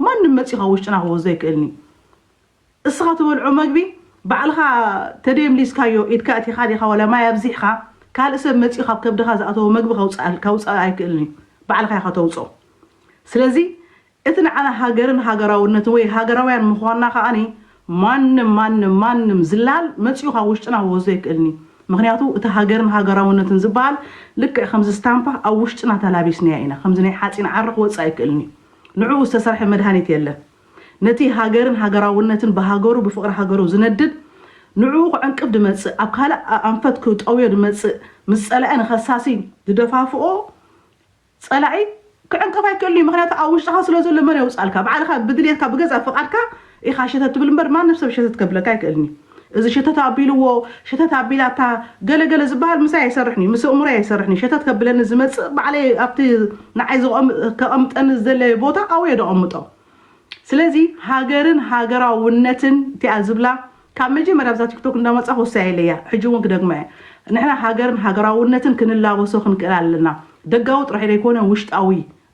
ማንም መጺኡ ካብ ውሽጥና ክወስዶ ኣይክእልን እዩ እስኻ ትበልዖ መግቢ ባዕልኻ ተደየምሊስካዮ ኢድካ ኣእቲኻ ዲኻ ዋላ ማይ ኣብዚሕኻ ካልእ ሰብ መጺኡ ካብ ከብድኻ ዝኣተዎ መግቢ ከውጽኣካ ኣይክእልን እዩ ባዕልኻ ኢኻ ተውጽኦ ስለዚ እቲ ንዓና ሃገርን ሃገራውነትን ወይ ሃገራውያን ምዃንና ከኣኒ ማንም ማንም ማንም ዝላል መጺኡ ካብ ውሽጥና ክወስዶ ኣይክእልን እዩ ምኽንያቱ እቲ ሃገርን ሃገራውነትን ዝበሃል ልክዕ ከምዚ ስታምፓ ኣብ ውሽጥና ተላቢስናዮ ኢና ከምዚ ናይ ሓጺን ዓረ ክወጽእ ኣይክእልን እዩ ንዕኡ ዝተሰርሐ መድሃኒት የለን። ነቲ ሃገርን ሃገራውነትን ብሃገሩ ብፍቕሪ ሃገሩ ዝነድድ ንዕኡ ክዕንቅፍ ድመጽእ ኣብ ካልእ ኣንፈት ክጠውዮ ድመጽእ ምስ ጸላኢ ንኸሳሲ ድደፋፍኦ ጸላኢ ክዕንቅፍ ኣይክእልን እዩ ምኽንያቱ ኣብ ውሽጥኻ ስለ ዘሎ መን የውጻልካ ባዕልኻ ብድልየትካ ብገዛእ ፍቓድካ ኢኻ ሸተት ትብል እምበር ማንም ሰብ ሸተት ከብለካ ኣይክእልን እዩ። እዚ ሸተት ኣቢልዎ፣ ሸተት ኣቢላታ፣ ገለ ገለ ዝበሃል ምሳይ ኣይሰርሕን'ዩ፣ ምስ ኣእምሮይ ኣይሰርሕን'ዩ፣ ሸተት ከብለኒ ዝመጽእ ባዕለይ ኣብቲ ንዓይ ከቐምጠኒ ዝደለዮ ቦታ ኣብኡ'የ ደቐምጦ። ስለዚ ሃገርን ሃገራውነትን እቲኣ ዝብላ ካብ መጀመርያ ኣብዛ ቲክቶክ እንዳመጻኹ ወሲያይለያ፣ ሕጂ እውን ክደግማ'የ፣ ንሕና ሃገርን ሃገራውነትን ክንላበሶ ክንክእል ኣለና፣ ደጋዊ ጥራይ ዘይኮነ ውሽጣዊ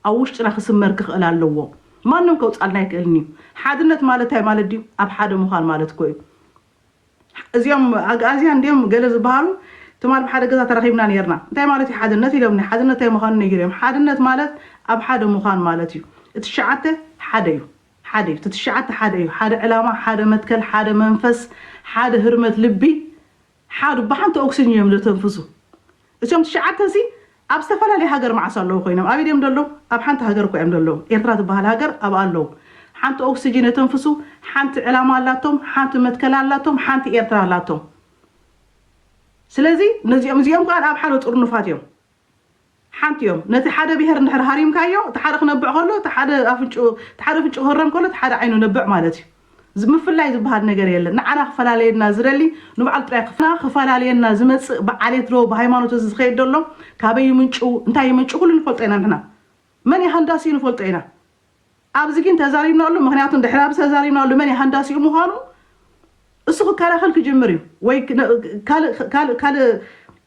ኣብ ውሽጥና ክስመር ክኽእል ኣለዎ። ማንም ከውጽኣልና ኣይክእልን እዩ። ሓድነት ማለት እንታይ ማለት ድዩ? ኣብ ሓደ ምዃን ማለት እኮ እዩ። እዚኦም ኣግኣዝያን ድዮም ገለ ዝበሃሉ ትማል ኣብ ሓደ ገዛ ተራኺብና ኔርና። እንታይ ማለት እዩ ሓድነት ኢሎምኒ። ሓድነት እንታይ ምዃኑ ነጊረዮም። ሓድነት ማለት ኣብ ሓደ ምዃን ማለት እዩ። እቲ ትሽዓተ ሓደ እዩ። ሓደ እዩ። እቲ ትሽዓተ ሓደ እዩ። ሓደ ዕላማ፣ ሓደ መትከል፣ ሓደ መንፈስ፣ ሓደ ህርመት ልቢ፣ ሓዱ ብሓንቲ ኦክስጅን እዮም ዘተንፍሱ እሲኦም ትሽዓተ ሲ ኣብ ዝተፈላለየ ሃገር መዓስ ኣለዉ ኮይኖም ኣበይ ድዮም ደለዉ ኣብ ሓንቲ ሃገር እኳ እዮም ደለዉ ኤርትራ ትበሃል ሃገር ኣብኣ ኣለዉ ሓንቲ ኦክስጅን የተንፍሱ ሓንቲ ዕላማ ኣላቶም ሓንቲ መትከል ኣላቶም ሓንቲ ኤርትራ ኣላቶም ስለዚ ነዚኦም እዚኦም ከኣ ኣብ ሓደ ጥርኑፋት እዮም ሓንቲ እዮም ነቲ ሓደ ብሄር እንድሕር ሃሪምካዮ እቲ ሓደ ክነብዕ ከሎ እቲ ሓደ ኣፍንጭኡ እቲ ሓደ ኣፍንጭኡ ክህረም ከሎ እቲ ሓደ ዓይኑ ነብዕ ማለት እዩ ዝ ምፍላይ ዝብሃል ነገር የለን ንዓና ክፈላልየና ዝደሊ ንባዕሉ ጥራይ ክፍ ንዓና ክፈላልየና ዝመጽእ ብዓሌት ዶ ብሃይማኖት እዚ ዝኸይድ ዘሎ ካበይ ይምንጩ እንታይ ይምንጩ ኩሉ ንፈልጦ ኢና ንሕና መን እዩ ሃንዳሲኡ ንፈልጦ ኢና ኣብዚ ግን ተዛሪብናሉ ምክንያቱ ድሕሪ ኣብዚ ተዛሪብናሉ መን ሃንዳሲኡ ምዃኑ እሱ ክከላኸል ክጅምር እዩ ወይ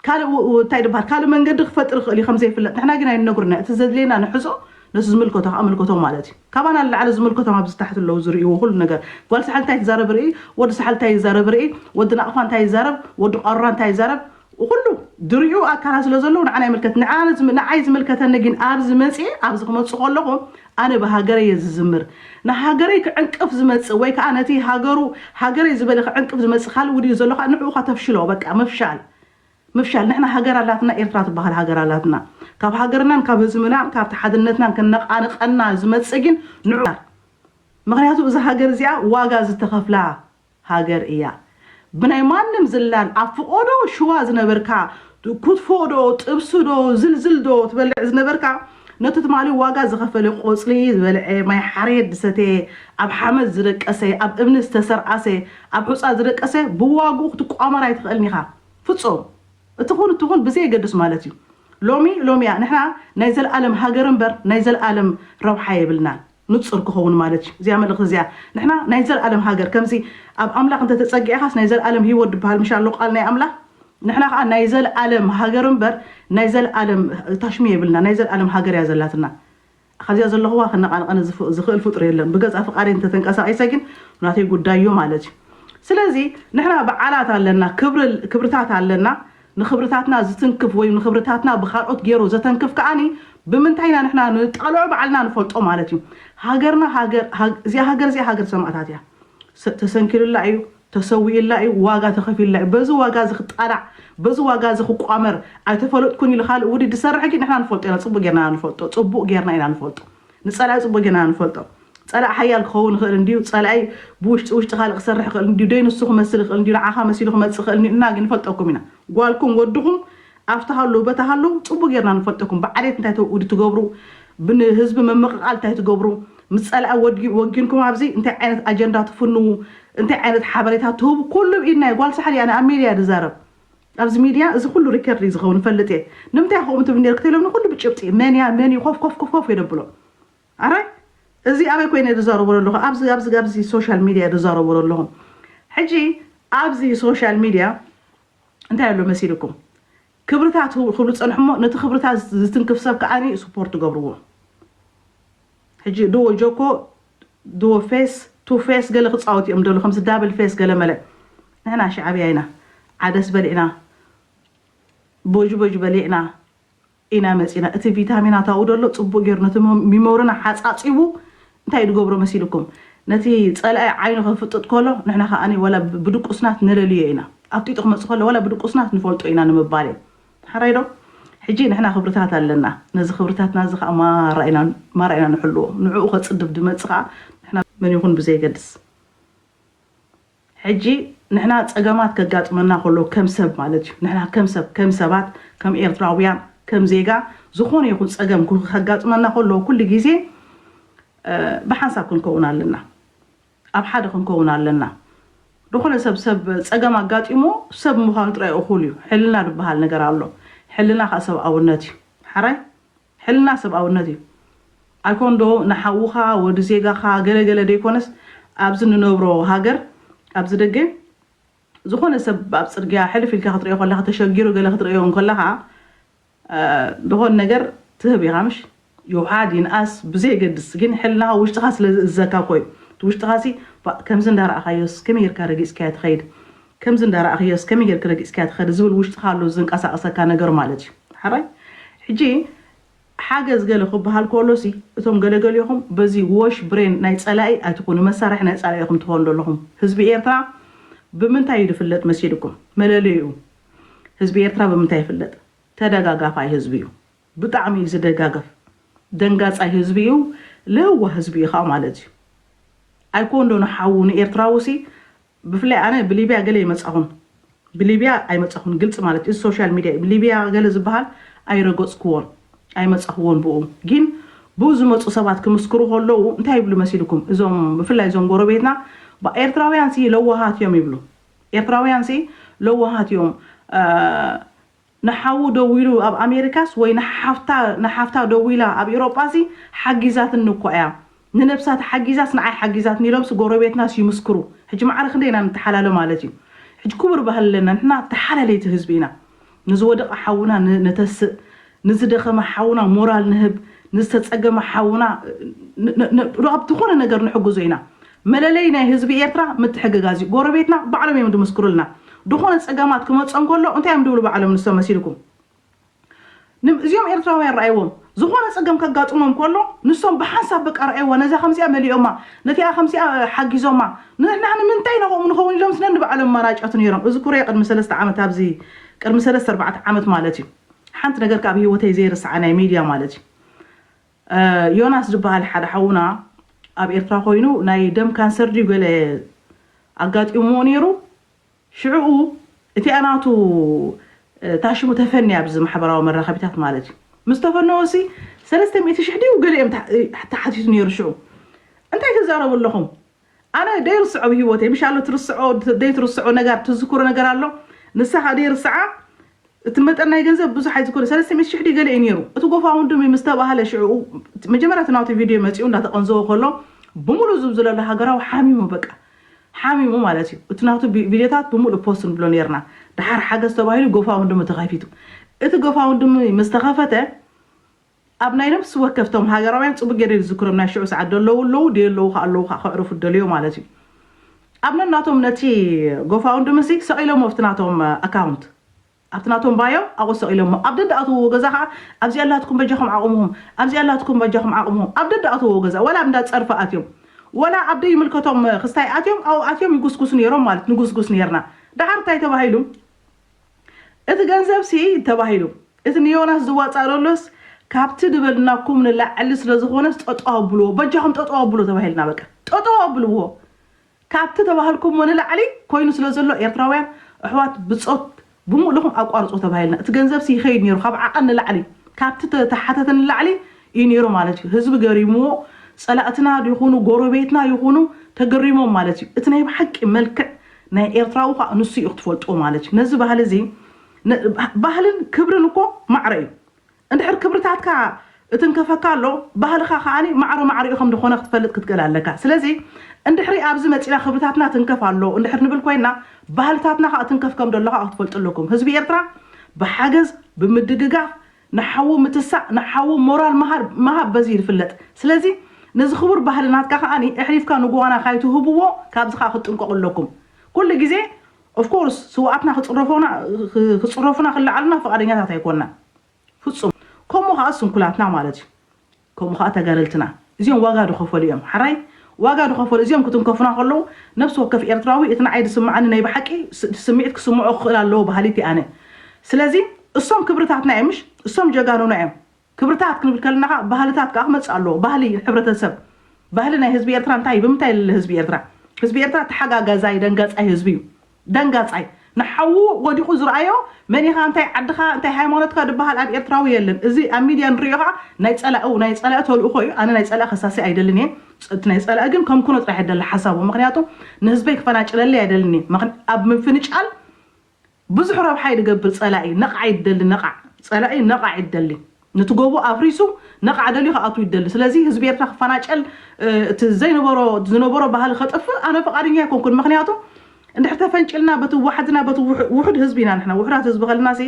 ካልእ እንታይ ድበሃል ካልእ መንገዲ ክፈጥር ይኽእል እዩ ከምዘይፍለጥ ንሕና ግን ኣይነግሩና እቲ ዘድልየና ንሕዞ ነቲ ዝምልከቶ ከዓ ኣምልከቶ ማለት እዩ ካባና ንላዕሊ ዝምልከቶም ኣብዚ ታሕቲ ኣለዉ ዝርእይዎ ኩሉ ነገር ጓል ሳሕል እንታይ ትዛረብ ርኢ ወዲ ሳሕል እንታይ ይዛረብ ርኢ ወዲ ናቕፋ እንታይ ይዛረብ ወዲ ቋሩራ እንታይ ይዛረብ ኹሉ ድሪዑ ኣካላት ስለ ዘለዉ ንዓና ይምልከት ንዓና ዝም ንዓይ ዝምልከተኒ ጊን ኣብዚ መጽየ ኣብዚ ክመጽእ ከለኹ ኣነ ብሃገረይ እየ ዝዝምር ንሃገረይ ክዕንቅፍ ዝመጽእ ወይ ከኣ ነቲ ሃገሩ ሃገረይ ዝበለ ክዕንቅፍ ዝመጽእ ካልእ ውዲት ዘሎ ከኣ ንዕኡ ከተፍሽሎ በቃ ምፍሻል ምፍሻል ንሕና ሃገር ኣላትና ኤርትራ ትበሃል ሃገር ኣላትና ካብ ሃገርናን ካብ ህዝብናን ካብቲ ሓድነትናን ከነቓንቐና ዝመጽእ ጊን ንዑ ምኽንያቱ እዛ ሃገር እዚኣ ዋጋ ዝተኸፍላ ሃገር እያ ብናይ ማንም ዝላን ኣብ ፍቆዶ ሽዋ ዝነበርካ ኩትፎ ዶ ጥብሲ ዶ ዝልዝል ዶ ትበልዕ ዝነበርካ ነቲ ትማሊ ዋጋ ዝኸፈለ ቆጽሊ ዝበልዔ ማይ ሓሬት ዝሰተየ ኣብ ሓመድ ዝደቀሰ ኣብ እምኒ ዝተሰርኣሰ ኣብ ሑጻ ዝደቀሰ ብዋግኡ ክትቋመር ኣይትኽእልን ኢኻ ፍጹም እትኹን እትኹን ብዘየገድስ ማለት እዩ ሎሚ ሎሚ እያ ንሕና ናይ ዘልኣለም ሃገር እምበር ናይ ዘልኣለም ረብሓ የብልናን። ንጹር ክኸውን ማለት እዩ እዚኣ መልእኽቲ እዚኣ ንሕና ናይ ዘልኣለም ሃገር ከምዚ ኣብ ኣምላኽ እንተ ተጸጊዕኻስ ናይ ዘልኣለም ህይወት ድበሃል ምሽ ኣሎ ቃል ናይ ኣምላኽ ንሕና ከኣ ናይ ዘልኣለም ሃገር እምበር ናይ ዘልኣለም ታሽሙ የብልና ናይ ዘልኣለም ሃገር እያ ዘላትና ካብዚኣ ዘለኹዋ ክነቓንቐኒ ዝኽእል ፍጡር የለን ብገዛ ፍቃደይ እንተ ተንቀሳቒሰ ግን ናተይ ጉዳይ እዩ ማለት እዩ ስለዚ ንሕና በዓላት ኣለና ክብርታት ኣለና ንኽብርታትና ዝትንክፍ ወይ ንኽብርታትና ብካልኦት ጌሩ ዘተንክፍ ከኣ ብምንታይ ኢና ንሕና ንጠልዖ ባዕልና ንፈልጦ ማለት እዩ። ሃገርና ሃገር እዚኣ ሃገር እዚኣ ሃገር ሰማእታት እያ። ተሰንኪሉላ እዩ፣ ተሰዊኡላ እዩ፣ ዋጋ ተኸፊሉላ እዩ። በዚ ዋጋ እዚ ክጣላዕ በዚ ዋጋ እዚ ክቋመር ኣይተፈለጥኩን ኢሉ ካልእ ውዲት ዝሰርሕ ግን ንሕና ንፈልጦ ኢና ጽቡቕ ጌርና ኢና ንፈልጦ ጽቡቕ ጌርና ኢና ንፈልጦ። ንጸላኢ ጽቡቕ ጌና ንፈልጦ ጸላኢ ሓያል ክኸውን ይኽእል እንድዩ ጸላኢ ብውሽጢ ውሽጢ ካልእ ክሰርሕ ይኽእል እንድዩ ደይ ንሱ ክመስል ይኽእል እንድዩ ንዓኻ መሲሉ ክመጽእ ይኽእል እንድዩ እና ግን ንፈልጠኩም ኢና ጓልኩም ወድኹም ኣብቲ ሃልው በታ ሃልው ጽቡቕ ጌርና ንፈልጠኩም ብዓሌት እንታይ ተውእዱ ትገብሩ ብንህዝቢ ምምቕቓል እንታይ ትገብሩ ምስ ጸላኢ ወድጊ ወጊንኩም ኣብዚ እንታይ ዓይነት ኣጀንዳ ትፍንዉ እንታይ ዓይነት ሓበሬታ ትህቡ ኩሉ ብኢድና እዩ ጓል ሳሕል እያ እኔ ኣብ ሜድያ ድዛረብ ኣብዚ ሚድያ እዚ ኩሉ ሪከርድ እዩ ዝከውን እፈልጥ እየ ንምንታይ ኢካ ከምኡ ትብል ኔርክ ተሎም ንኩሉ ብጭብጢ መን እያ መን እዩ ኮፍ ኮፍ ኮፍ ኮፍ የደብሎ ኣራይ እዚ ኣበይ ኮይነ እየ ዝዛረቦ ዘለኩ ኣብዚ ኣብዚ ኣብዚ ሶሻል ሚድያ እየ ዝዛረቦ ዘለኩ ሕጂ ኣብዚ ሶሻል ሚድያ እንታይ ኣሎ መሲልኩም ክብርታት ክብሉ ዝጸንሑ እሞ ነቲ ክብርታት ዝትንክፍ ሰብ ከኣ ስፖርት ገብርዎ ሕጂ ዱዎ ጆኮ ዱዎ ፌስ ቱ ፌስ ገለ ክጻወቱ ኢዮም ዝደልዩ ከምዚ ዳብል ፌስ ገለ መለ ንሕና ሻዕብያ ኢና ዓደስ በሊዕና ቦጅቦጅ በሊዕና ኢና መጺና እቲ ቪታሚናት ኣብኡ ደሎ ጽቡቅ ጌሩ ነቲ ሚሞርና ሓጻጺቡ እንታይ ድገብሮ መሲልኩም ነቲ ጸላኢ ዓይኑ ከፍጥጥ ከሎ ንሕና ከኣ ወላ ብድቁስናት ንለልዮ ኢና ኣፍጢጡ ክመጽእ ከሎ ወላ ብድቁስናት ንፈልጦ ኢና ንምባል ኢዩ ሕራይ ዶ? ሕጂ ንሕና ክብርታት ኣለና፣ ነዚ ክብርታትና እዚ ከኣ ማራ ኢና ማራ ኢና ንሕልዎ፣ ንዕኡ ከጽድብ ድመጽእ ከኣ ንሕና፣ መን ይኹን ብዘየገድስ፣ ሕጂ ንሕና ጸገማት ከጋጥመና ከሎ ከም ሰብ ማለት እዩ፣ ንሕና ከም ሰብ፣ ከም ሰባት፣ ከም ኤርትራውያን፣ ከም ዜጋ፣ ዝኾነ ይኹን ጸገም ከጋጥመና ከሎ ኩሉ ግዜ ብሓንሳብ ክንከውን ኣለና። ኣብ ሓደ ክንከውን ኣለና ድኾነ ሰብ ሰብ ጸገም ኣጋጢምዎ ሰብ ምዃኑ ጥራይ እኹል እዩ ሕልና ድበሃል ነገር ኣሎ ሕልና ከኣ ሰብኣውነት እዩ ሐራይ ሕልና ሰብኣውነት እዩ ኣይኮን ዶ ንሓውኻ ወዲ ዜጋኻ ገለ ገለ ደይኮነስ ኣብዚ ንነብሮ ሃገር ኣብዚ ደገ ዝኾነ ሰብ ኣብ ጽርግያ ሕልፍ ኢልካ ክትርእዮ ከለኻ ተሸጊሩ ገለ ክትርእዮ እንከለኻ ዝኾን ነገር ትህብ ኢኻ ምሽ ይውሓድ ይንኣስ ብዘየገድስ ግን ሕልናኻ ውሽጥኻ ስለ ዝእዘካ እኮ እዩ እቲ ውሽጥኻሲ ባእ ከምዚ እንዳረኣኻዮስ ከመይ ጌርካ ረጊጽካዮ ትኸይድ ከምዚ እንዳረኣኽዮስ ከመይ ጌርኪ ረጊጽካዮ ትኸዲ ዝብል ውሽጥኻ ኣሎ ዘንቀሳቕሰካ ነገር ማለት እዩ ሓራይ ሕጂ ሓገዝ ገለ ክብሃል ኮሎሲ እቶም ገለገልዮኹም በዚ ዎሽ ብሬን ናይ ጸላኢ ኣይትኹኑ መሳርሒ ናይ ጸላኢ ኢኹም ትኾኑ ደለኹም ህዝቢ ኤርትራ ብምንታይ እዩ ድፍለጥ መሲልኩም መለለይኡ ህዝቢ ኤርትራ ብምንታይ ይፍለጥ ተደጋጋፋይ ህዝቢ እዩ ብጣዕሚ እዩ ዝደጋገፍ ደንጋጻይ ህዝቢ እዩ ለዋህ ህዝቢ እዩ ከዓ ማለት እዩ ኣይኮን ዶ ንሓዉ ንኤርትራዊ ሲ ብፍላይ ኣነ ብሊብያ ገለ ይመጻኹን ብሊብያ ኣይመጻኹን ግልጺ ማለት እዩ ሶሻል ሚዲያ እዩ ሊብያ ገለ ዝበሃል ኣይረገጽክዎን ኣይመጻኽዎን ብኡ ግን ብኡ ዝመፁ ሰባት ክምስክሩ ከለዉ እንታይ ይብሉ መሲልኩም እዞም ብፍላይ እዞም ጎረቤትና ኤርትራውያን ሲ ለዋሃት እዮም ይብሉ ኤርትራውያንሲ ለዋሃት እዮም ንሓዉ ደዊሉ ኣብ ኣሜሪካስ ወይ ንሓፍታ ንሓፍታ ደዊላ ኣብ ኢሮጳሲ ሓጊዛትኒ እኳ እያ ንነብሳ ተሓጊዛስ ንዓይ ሓጊዛትኒ ኢሎምሲ ጎረቤትናስ ይምስክሩ ሕጂ ማዕረ ክንደይ ኢና ንተሓላለ ማለት እዩ ሕጂ ኩቡር ባህሊ ኣለና ንሕና ተሓላለይቲ ህዝቢ ኢና ንዝወደቐ ሓውና ነተስእ፣ ንዝደኸመ ሓውና ሞራል ንህብ፣ ንዝተጸገመ ሓውና ብ ዝኾነ ነገር ንሕግዞ ኢና። መለለዪ ናይ ህዝቢ ኤርትራ ምትሕግጋዝ እዩ። ጎረቤትና ባዕሎም እዮም ዝምስክሩልና። ዝኾነ ጸገማት ክመጾም ከሎ እንታይ እዮም ዝብሉ ባዕሎም ንሶም መሲልኩም? እዚኦም ኤርትራውያን ረኣይዎም። ዝኾነ ጸገም ከጋጥሞም ከሎ ንሶም ብሓንሳብ በቃ ረኣይዋ ነዛ ከምዚኣ መሊኦማ ነቲኣ ከምዚኣ ሓጊዞማ ንሕና ንምንታይ ናብኦም ንኸውን ኢሎምስ ነንባዕሎም መራጨቱ ኔሮም እዝኩሬ ቅድሚ ሰለስተ ዓመት ኣብዚ ቅድሚ ሰለስተ ኣርባዕተ ዓመት ማለት እዩ ሓንቲ ነገር ከኣ ኣብ ሂወተይ ዘይርስዓ ናይ ሜድያ ማለት እዩ ዮናስ ዝበሃል ሓደ ሓውና ኣብ ኤርትራ ኮይኑ ናይ ደም ካንሰር ድዩ ገለ ኣጋጢምዎ ኔሩ ሽዕኡ እቲኣ ናቱ እታ ሽሙ ተፈንያ ብዚ ማሕበራዊ መራኸቢታት ማለት እዩ ምስ ተፈነወሲ ሰለስተ ሚእቲ ሽሕ ድዩ ገለ እዮም ተሓቲቱ ነይሩ ሽዑ እንታይ ትዛረቡ ኣለኹም ኣነ ደይርስዖ ብ ሂወተይ ምሽ ኣሎ ትርስዖ ደይትርስዖ ነጋር ትዝክሮ ነገር ኣሎ ንሳ ከኣ ደይርስዓ እቲ መጠን ናይ ገንዘብ ብዙሕ ኣይዝኮነ ሰለስተ ሚእቲ ሽሕ ድዩ ገለ እዩ ነይሩ እቲ ጎፋውንድሚ ምስ ተባህለ ሽዕኡ መጀመርያ እቲ ናቱ ቪድዮ መጺኡ እንዳተቐንዘወ ከሎ ብሙሉ ዝብዝለሉ ሃገራዊ ሓሚሙ በቃ ሓሚሙ ማለት እዩ እቲ ናቱ ቪድዮታት ብሙሉእ ፖስት ንብሎ ኔርና ደሓር ሓገዝ ተባሂሉ ጎፋውንድሚ ተኸፊቱ እቲ ጎፋውንድሚ ምስ ተኸፈተ ኣብ ናይ ነብሲ ወከፍ እቶም ሃገራውያን ጽቡቅ ጌሬ ዝዝክሮም ናይ ሽዑ ሰዓት ደለዉ ኣለዉ ደየለዉ ከኣ ኣለዉ ከኣ ከዕርፉ ደለዮ ማለት እዩ ኣብ ነናቶም ነቲ ጎፋውንድሚ ሲ ሰቂሎሞ ኣብቲ ናቶም ኣካውንት ኣብቲ ናቶም ባዮ ኣብኡ ሰቒሎሞ ኣብ ደድኣትውዎ ገዛ ከኣ ኣብዚኣ ኣላትኩም በጃኹም ዓቑምሁም ኣብዚኣ ኣላትኩም በጃኹም ዓቑምሁም ኣብ ደድኣትውዎ ገዛ ወላ ኣብ እንዳ ጸርፊ ኣትዮም ወላ ኣብ ደይምልከቶም ክስታይ ኣትዮም ኣብኡ ኣትዮም ይጉስጉሱ ኔሮም ማለት ንጉስጉስ ኔርና ደሓር እንታይ ተባሂሉ እቲ ገንዘብሲ ተባሂሉ እቲ ንዮናስ ዝዋጻእ ደሎስ ካብቲ ድበልናኩም ንላዕሊ ስለዝኾነስ ጠጠው ኣብልዎ በጃኹም ጠጠው ኣብልዎ ተባሂልና በቃ ጠጠው ኣብልዎ ካብቲ ተባህልኩሞ ንላዕሊ ኮይኑ ስለ ዘሎ ኤርትራውያን ኣሕዋት ብጾት ብሙእ ልኹም ኣቋርጽዎ ተባሂልና እቲ ገንዘብሲ ይኸይድ ኔሩ ካብ ዓቐን ንላዕሊ ካብቲ ተተሓተተ ንላዕሊ ኢዩ ኔሩ ማለት ኢዩ ህዝቢ ገሪምዎ ጸላእትና ይኹኑ ጎረቤትና ይኹኑ ተገሪሞም ማለት ኢዩ እቲ ናይ ብሓቂ መልክዕ ናይ ኤርትራዊ ኸኣ ንሱ ኢዩ ክትፈልጥዎ ማለት ኢዩ ነዚ ባህሊ እዚ ባህልን ክብርን እኮ ማዕረ ኢዩ እንድሕር ክብርታትካ እትንከፈካ ኣሎ ባህልኻ ከኣ ማዕረ ማዕሪኡ ከም ድኾነ ክትፈልጥ ክትክእል ኣለካ ስለዚ እንድሕሪ ኣብዚ መጺና ክብርታትና ትንከፍ ኣሎ እንድሕር ንብል ኮይና ባህልታትና ከኣ ትንከፍ ከም ደሎ ከኣ ክትፈልጡ ኣለኩም ህዝቢ ኤርትራ ብሓገዝ ብምድግጋፍ ንሓዉ ምትሳእ ንሓዉ ሞራል ምሃር ምሃብ በዚ ይፍለጥ ስለዚ ነዚ ክቡር ባህሊ ናትካ ከኣ እሕሊፍካ ንጉዋና ካይትህብዎ ካብዚ ከኣ ክትጥንቀቁ ኣለኩም ኩሉ ግዜ Of course ስውኣትና ክጽረፎና ክጽረፉና ክለዓሉና ፍቃደኛታት ኣይኮናን ፍጹም ከምኡ ከኣ ስንኩላትና ማለት እዩ ከምኡ ከኣ ተጋደልትና እዚኦም ዋጋ ድከፈሉ እዮም ሓራይ ዋጋ ድከፈሉ እዚኦም ክትንከፉና ከለዉ ነብሲ ወከፍ ኤርትራዊ እቲ ንዓይ ድስምዓኒ ናይ ብሓቂ ስምዒት ክስምዖ ክክእል ኣለዎ በሃሊት እየ ኣነ ስለዚ እሶም ክብርታትና እዮም ምሽ እሶም ጀጋኑና እዮም ክብርታት ክንብል ከለና ከኣ ባህልታት ከኣ ክመጽእ ኣለዎ። ባህሊ ሕብረተሰብ፣ ባህሊ ናይ ህዝቢ ኤርትራ እንታይ እዩ? ብምንታይ ይልለ ህዝቢ ኤርትራ? ህዝቢ ኤርትራ ተሓጋጋዛይ ደንጋጻይ ህዝቢ እዩ። ደንጋጻይ። ንሓዉ ወዲቑ ዝርኣዮ መን ኢኻ እንታይ ዓድኻ እንታይ ሃይማኖትካ ድበሃል ኣብ ኤርትራዊ የለን። እዚ ኣብ ሚድያ ንርእዮ ከኣ ናይ ጸላኢ ናይ ጸላኢ ተልእኾ እዩ። ኣነ ናይ ጸላኢ ከሳሲ ኣይደልን እየ። እቲ ናይ ጸላኢ ግን ከምክኖ ጥራሕ እየ ዝደሊ ሓሳቡ። ምኽንያቱ ንህዝበይ ክፈናጭለለይ ኣይደልን እየ። ኣብ ምፍንጫል ብዙሕ ረብሓ እዩ ድገብር ጸላኢ ነቓዕ እዩ ድደሊ ነቓዕ ጸላኢ ነቓዕ እዩ ድደሊ ንቲ ጎቦ ኣፍሪሱ ነቓዕ ደልዩ ክኣትው እዩ ድደሊ ስለዚ ህዝቢ ኤርትራ ክፋናጨል እቲ ዘይነበሮ ዝነበሮ ባህሊ ከጥፍእ ኣነ ፍቓደኛ ኣይኮንኩን ምክንያቱ እንድሕር ተፈንጭልና በቲ ዋሕድና በቲ ውሑድ ህዝቢ ኢና ንሕና ውሑዳት ህዝቢ ከልና ሲ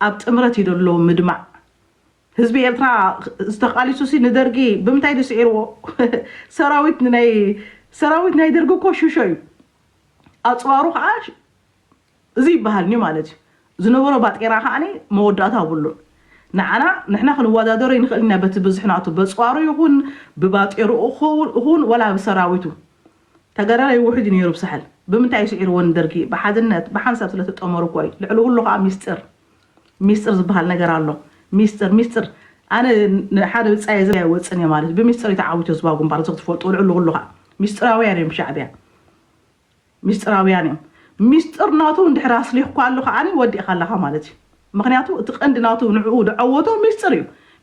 ኣብ ጥምረት እዩ ደሎ ምድማዕ ህዝቢ ኤርትራ ዝተቃሊሱ ሲ ንደርጊ ብምንታይ ድዩ ስዒርዎ ሰራዊት ናይ ሰራዊት ናይ ደርጊ እኮ ሽሾ እዩ ኣፅዋሩ ከዓ እዚ ይበሃልኒ ማለት እዩ ዝነበሮ ባጤራ ከኣ መወዳእታ ኣብሉን ንዓና ንሕና ክንወዳደሮ ይንክእል ኢና በቲ ብዝሒ ናቱ በጽዋሩ ይኹን ብባጤርኡ ኹን ወላ ብሰራዊቱ ተገረላይ ውሕጅ እዩ ነይሩ ብሳሕል ብምንታይ እዩ ስዒርዎ ንደርጊ ብሓድነት ብሓንሳብ ስለ ተጠመሩ እኮ እዩ ልዕሊ ኩሉ ከኣ ሚስጥር ሚስጥር ዝበሃል ነገር ኣሎ ሚስጥር ሚስጥር ኣነ ንሓደ ብጻየ ዘ ወጽን እየ ማለት ብሚስጥር እዩ ተዓዊቱ ህዝባዊ ግንባር እዚ ክትፈልጡ ልዕሊ ኩሉ ከኣ ሚስጥራውያን እዮም ሻዕብያ ሚስጥራውያን እዮም ሚስጥር ናቱ እንድሕር ኣስሊኽኳሉ ከዓኒ ወዲእኻ ኣለኻ ማለት እዩ ምኽንያቱ እቲ ቀንዲ ናቱ ንዕኡ ደዐወቶ ሚስጥር እዩ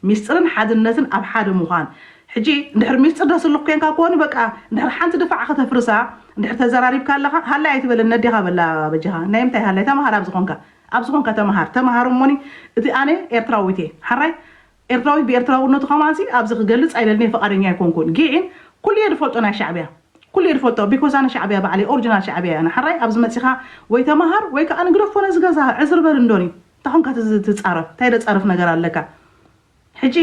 ሚስጥርን ሓድነትን ኣብ ሓደ ምዃን ሕጂ እንድሕር ሚስጥር ደስልኽ ኮንካ ኮኑ በቃ እንድሕር ሓንቲ ድፋዕ ከተፍርሳ እንድሕር ተዘራሪብካ ኣለኻ ሃላይ ኣይትበለኒ ነዴኻ በላ በጃኻ ናይ ምንታይ ሃላይ ተምሃር ኣብ ዝኾንካ ኣብ ዝኾንካ ተምሃር ተምሃር እሞኒ እቲ ኣነ ኤርትራዊት እየ ሓራይ ኤርትራዊት ብኤርትራውነቱ ከማንሲ ኣብዚ ክገልጽ ኣይደልንየ ፍቃደኛ ኣይኮንኩን ጊን ኩሉየ ድፈልጦ ናይ ሻዕብያ ኩሉየ ድፈልጦ ቢኮዝ ኣነ ሻዕብያ ባዕለይ ኦርጅናል ሻዕብያ ኣነ ሐራይ ኣብዚ መጺኻ ወይ ተማሃር ወይ ከኣ ንግደፎ ነዚ ገዛ ዕዝር በል እንዶኒ እንታይ ኮንካ ትጻረፍ እንታይ ደጻርፍ ነገር ኣለካ ሕጂ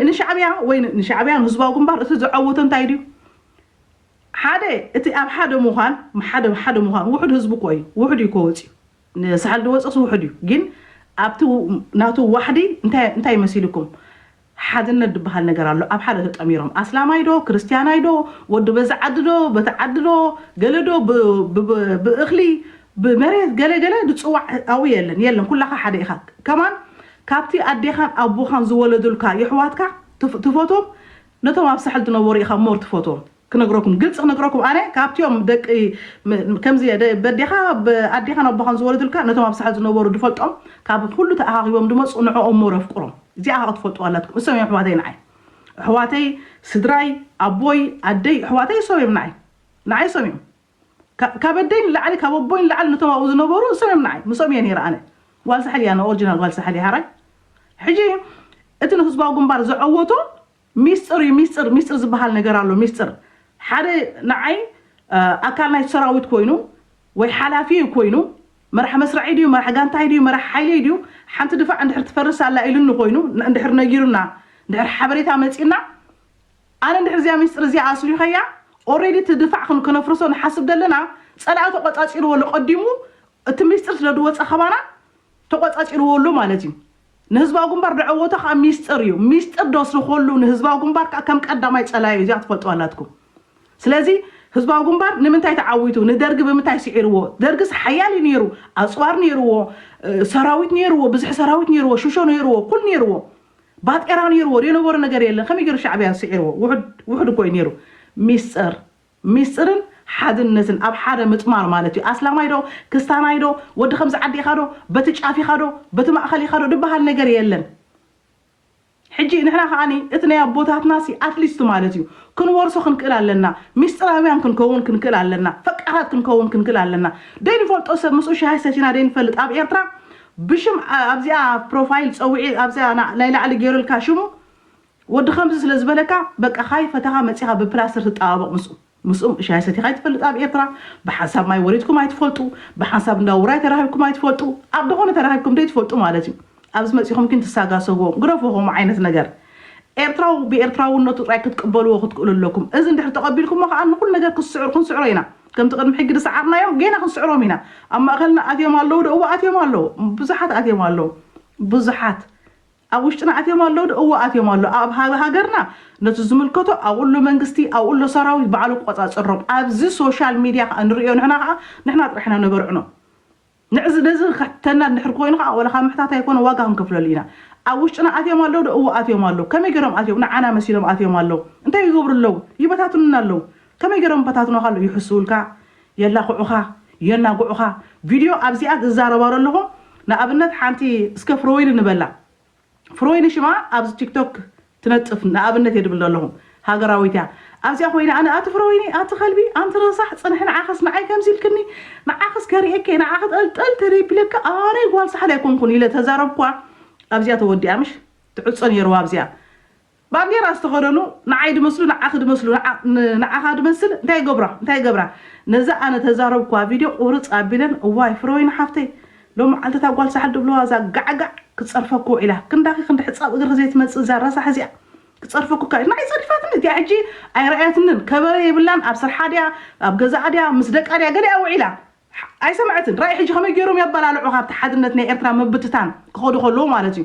ንሻዕብያ ወይ ንሻዕብያ ንህዝባዊ ግንባር እቲ ዘዐወቶ እንታይ ድዩ ሓደ እቲ ኣብ ሓደ ምዃን ሓደ ሓደ ምዃን ውሑድ ህዝቢ እኮ እዩ ውሑድ እዩ ከወጽዩ ንሳሕል ድወጽእስ ውሑድ እዩ ግን ኣብቲ ናቱ ዋሕዲ እንታይ እንታይ መሲሉኩም ሓድነት ድበሃል ነገር ኣሎ ኣብ ሓደ ተጠሚሮም ኣስላማይ ዶ ክርስትያናይ ዶ ወዲ በዚ ዓዲ ዶ በቲ ዓዲ ዶ ገለ ዶ ብ ብ ብ ብእኽሊ ብመሬት ገለ ገለ ድጽዋዕ ኣዊ የለን የለን ኩላኻ ሓደ ኢኻ ከማን ካብቲ ኣዴኻን ኣቦኻን ዝወለዱልካ የሕዋትካ ትፍ ትፈትዎም ነቶም ኣብ ሳሕል ድነበሩ ኢኻ ሞር ትፈትዎም ክነግረኩም ግልፂ ክነግረኩም ኣነ ካብቲኦም ደቂ ከምዚ እየ ደ- በዴኻ ብ- ኣዴኻን ኣቦኻን ዝወለዱልካ ነቶም ኣብ ሳሕል ዝነበሩ ድፈልጦም ካብ ኩሉ ተኣኻኺቦም ድመፁ ንዕኦም ሞር ኣፍቅሮም እዚኣ ከዓ ክትፈልጡዋ ኣላትኩም እሶም እዮም ኣሕዋተይ ንዓይ ኣሕዋተይ ስድራይ ኣቦይ ኣደይ ኣሕዋተይ እሶም እዮም ንዓይ ንዓይ እሶም እዮም ካ- ካብ ኣደይ ንላዕሊ ካብ ኣቦይ ንላዕሊ ነቶም ኣብኡ ዝነበሩ እሶም እዮም ንዓይ ምስኦም እየ ነይረ ኣነ ጓል ሳሕል እያ ኣነ ኦሪጂናል ጓል ሳሕል እየ ሓራይ ሕጂ እቲ ንህዝባዊ ግንባር ዘዐወቶ ሚስጥር እዩ ሚስጥር ሚስጥር ዝበሃል ነገር ኣሎ ሚስጥር ሓደ ንዓይ ኣካል ናይቲ ሰራዊት ኮይኑ ወይ ሓላፊ እዩ ኮይኑ መራሕ መስርዐይ ድዩ መራሕ ጋንታይ ድዩ መራሕ ሓይለይ ድዩ ሓንቲ ድፋዕ እንድሕር ትፈርስ ኣላ ኢሉኒ ኮይኑ እንድሕር ነጊሩና እንድሕር ሓበሬታ መጺእና ኣነ እንድሕር እዚኣ ሚስጥር እዚኣ ኣስሊኸያ ኦሬዲ እቲ ድፋዕ ክን- ከነፍርሶ ንሓስብ ዘለና ጸላኢ ተቆጻጺርዎ ኣሎ ቀዲሙ እቲ ሚስጥር ስለ ዝወጸ ከባና ተቆጻጺርዎ ኣሎ ማለት እዩ። ንህዝባዊ ግንባር ደዐወቶ ከኣ ሚስጥር እዩ። ሚስጥር ደስርኮሉ ንህዝባዊ ግንባር ከኣ ከም ቀዳማይ ጸላዩ እዚኣ ትፈልጥዋ ኣላትኩም። ስለዚ ህዝባዊ ግንባር ንምንታይ ተዓዊቱ ንደርጊ ብምንታይ ስዒርዎ ደርግስ ሓያል እዩ ነይሩ ኣጽዋር ነይርዎ ሰራዊት ነይርዎ ብዝሒ ሰራዊት ነይርዎ ሽሾ ነይርዎ ኩል ነይርዎ ባጤራ ነይርዎ ደነበሮ ነገር የለን ከመይ ገይሩ ሻዕብያ ስዒርዎ ውሑድ ውሑድ እኮ እዩ ነይሩ ሚስጥር ሚስጥርን ሓድነትን ኣብ ሓደ ምጥማር ማለት እዩ። ኣስላማይ ዶ ክስታናይ ዶ ወዲ ከምዚ ዓዲ ኢኻ ዶ በቲ ጫፍ ኢኻ ዶ በቲ ማእኸል ኢኻ ዶ ድበሃል ነገር የለን። ሕጂ ንሕና ከኣ እቲ ናይ ኣቦታትናሲ ኣትሊስት ማለት እዩ ክንወርሶ ክንክእል ኣለና። ሚስጥራውያን ክንከውን ክንክእል ኣለና። ፈቃራት ክንከውን ክንክእል ኣለና። ደይንፈልጦ ሰብ ምስኡ ሻሂ ሰቲና ደይንፈልጥ ኣብ ኤርትራ ብሽም ኣብዚኣ ፕሮፋይል ጸውዒ ኣብዚኣ ናይ ላዕሊ ገይሩልካ ሽሙ ወዲ ከምዚ ስለ ዝበለካ በቃ ካይ ፈተኻ መጺኻ ብፕላስትር ትጣባበቕ ምስኡ ምስኡ ሻሂ ሰቲኻ ኣይትፈልጥ ኣብ ኤርትራ ብሓንሳብ ማይ ወሪድኩም ኣይትፈልጡ ብሓንሳብ እንዳ ውራይ ተራኺብኩም ኣይትፈልጡ ኣብ ደኾነ ተራኺብኩም ደይትፈልጡ ማለት እዩ ኣብዚ መጺኹም ግን ትሳጋሰግዎ ግረፎ ከምኡ ዓይነት ነገር ኤርትራዊ ብኤርትራውነቱ ጥራይ ክትቅበልዎ ክትክእሉ ኣለኩም እዚ እንድሕር ተቐቢልኩሞ ከኣ ንኹሉ ነገር ክስዕሩ ክንስዕሮ ኢና ከምቲ ቅድሚ ሕጊ ዝሰዓርናዮም ጌና ክንስዕሮም ኢና ኣብ ማእኸልና ኣትዮም ኣለዉ ዶ እወ ኣትዮም ኣለዉ ብዙሓት ኣትዮም ኣለዉ ብዙሓት ኣብ ውሽጥና ኣትዮም ኣለዉ ዶ? እወ ኣትዮም ኣለዉ። ኣብ ሃገርና ነቲ ዝምልከቶ ኣብኡ ኣሎ መንግስቲ፣ ኣብኡ ኣሎ ሰራዊት ባዕሉ ክቆጻጸሮም። ኣብዚ ሶሻል ሚድያ ከኣ ንርእዮ ንሕና ከኣ ንሕና ጥራሕ ኢና ነበርዕኖ። ንዕዚ ነዚ ክሕተና እንድሕር ኮይኑ ከኣ ወላ ካብ ምሕታት ኣይኮነ ዋጋ ክንከፍለሉ ኢና። ኣብ ውሽጥና ኣትዮም ኣለዉ ዶ? እወ ኣትዮም ኣለዉ። ከመይ ጌሮም ኣትዮም ንዓና መሲሎም ኣትዮም ኣለዉ። እንታይ ይገብሩ ኣለዉ? ይበታትኑና ኣለዉ። ከመይ ጌሮም ይበታትኑኻ ኣለዉ? ይሕስዉልካ፣ የላኽዑኻ የናግዑኻ ቪድዮ ኣብዚኣ ዝዛረባ ለለኹ ንኣብነት ሓንቲ እስከ ፍሮወይኒ ንበላ ፍሮወይኒ ሽማ ኣብዚ ቲክቶክ ትነጥፍ ንኣብነት እየ ድብል ለለኹ ሃገራዊት እያ ኣብዚኣ ኮይነ ኣነ ኣቲ ፍሮወይኒ ኣቲ ከልቢ ኣንቲ ረሳሕ ጽንሒ ንዓኽስ ንዓይ ከምዚ ኢልክኒ ንዓኽስ ከርእየኪ እየ ንዓኺ ጠልጠል ተደቢለኪ ኣነ ጓል ሳሕል ኣይኮንኩን ኢለ ተዛረብኳ ኣብዚኣ ተወዲኣ ምሽ ትዕጾ ነይርዋ ኣብዚኣ ባንዴራ ዝተኸደኑ ንዓይ ድመስሉ ንዓኺ ድመስሉ ንዓኻ ድመስል እንታይ ይገብራ እንታይ ይገብራ ነዛ ኣነ ተዛረብኩዋ ቪድዮ ቁርጽ ኣቢለን እዋይ ፍረወይኒ ሓፍተይ ሎምዓልቲ እታ ጓል ሳሕል ድብልዋ እዛ ጋዕጋዕ ክጸርፈኪ ውዒላ ክንዳኺ ክንዲ ሕጻብ እግርኺ ዘይትመጽእ እዛ ረሳሕ እዚኣ ክጸርፈኩ እካ ንዓይ ጸሪፋትኒ እቲኣ ሕጂ ኣይረኣያትንን ከበረ የብላን ኣብ ስርሓ ድያ ኣብ ገዛኣ ድያ ምስ ደቃ ድያ ገሊኣ ውዒላ ኣይሰምዐትን ራኢ ሕጂ ከመይ ጌሮም የበላልዑኻ ኣብቲ ሓድነት ናይ ኤርትራ ምብትታን ክኸዱ ከለዉ ማለት እዩ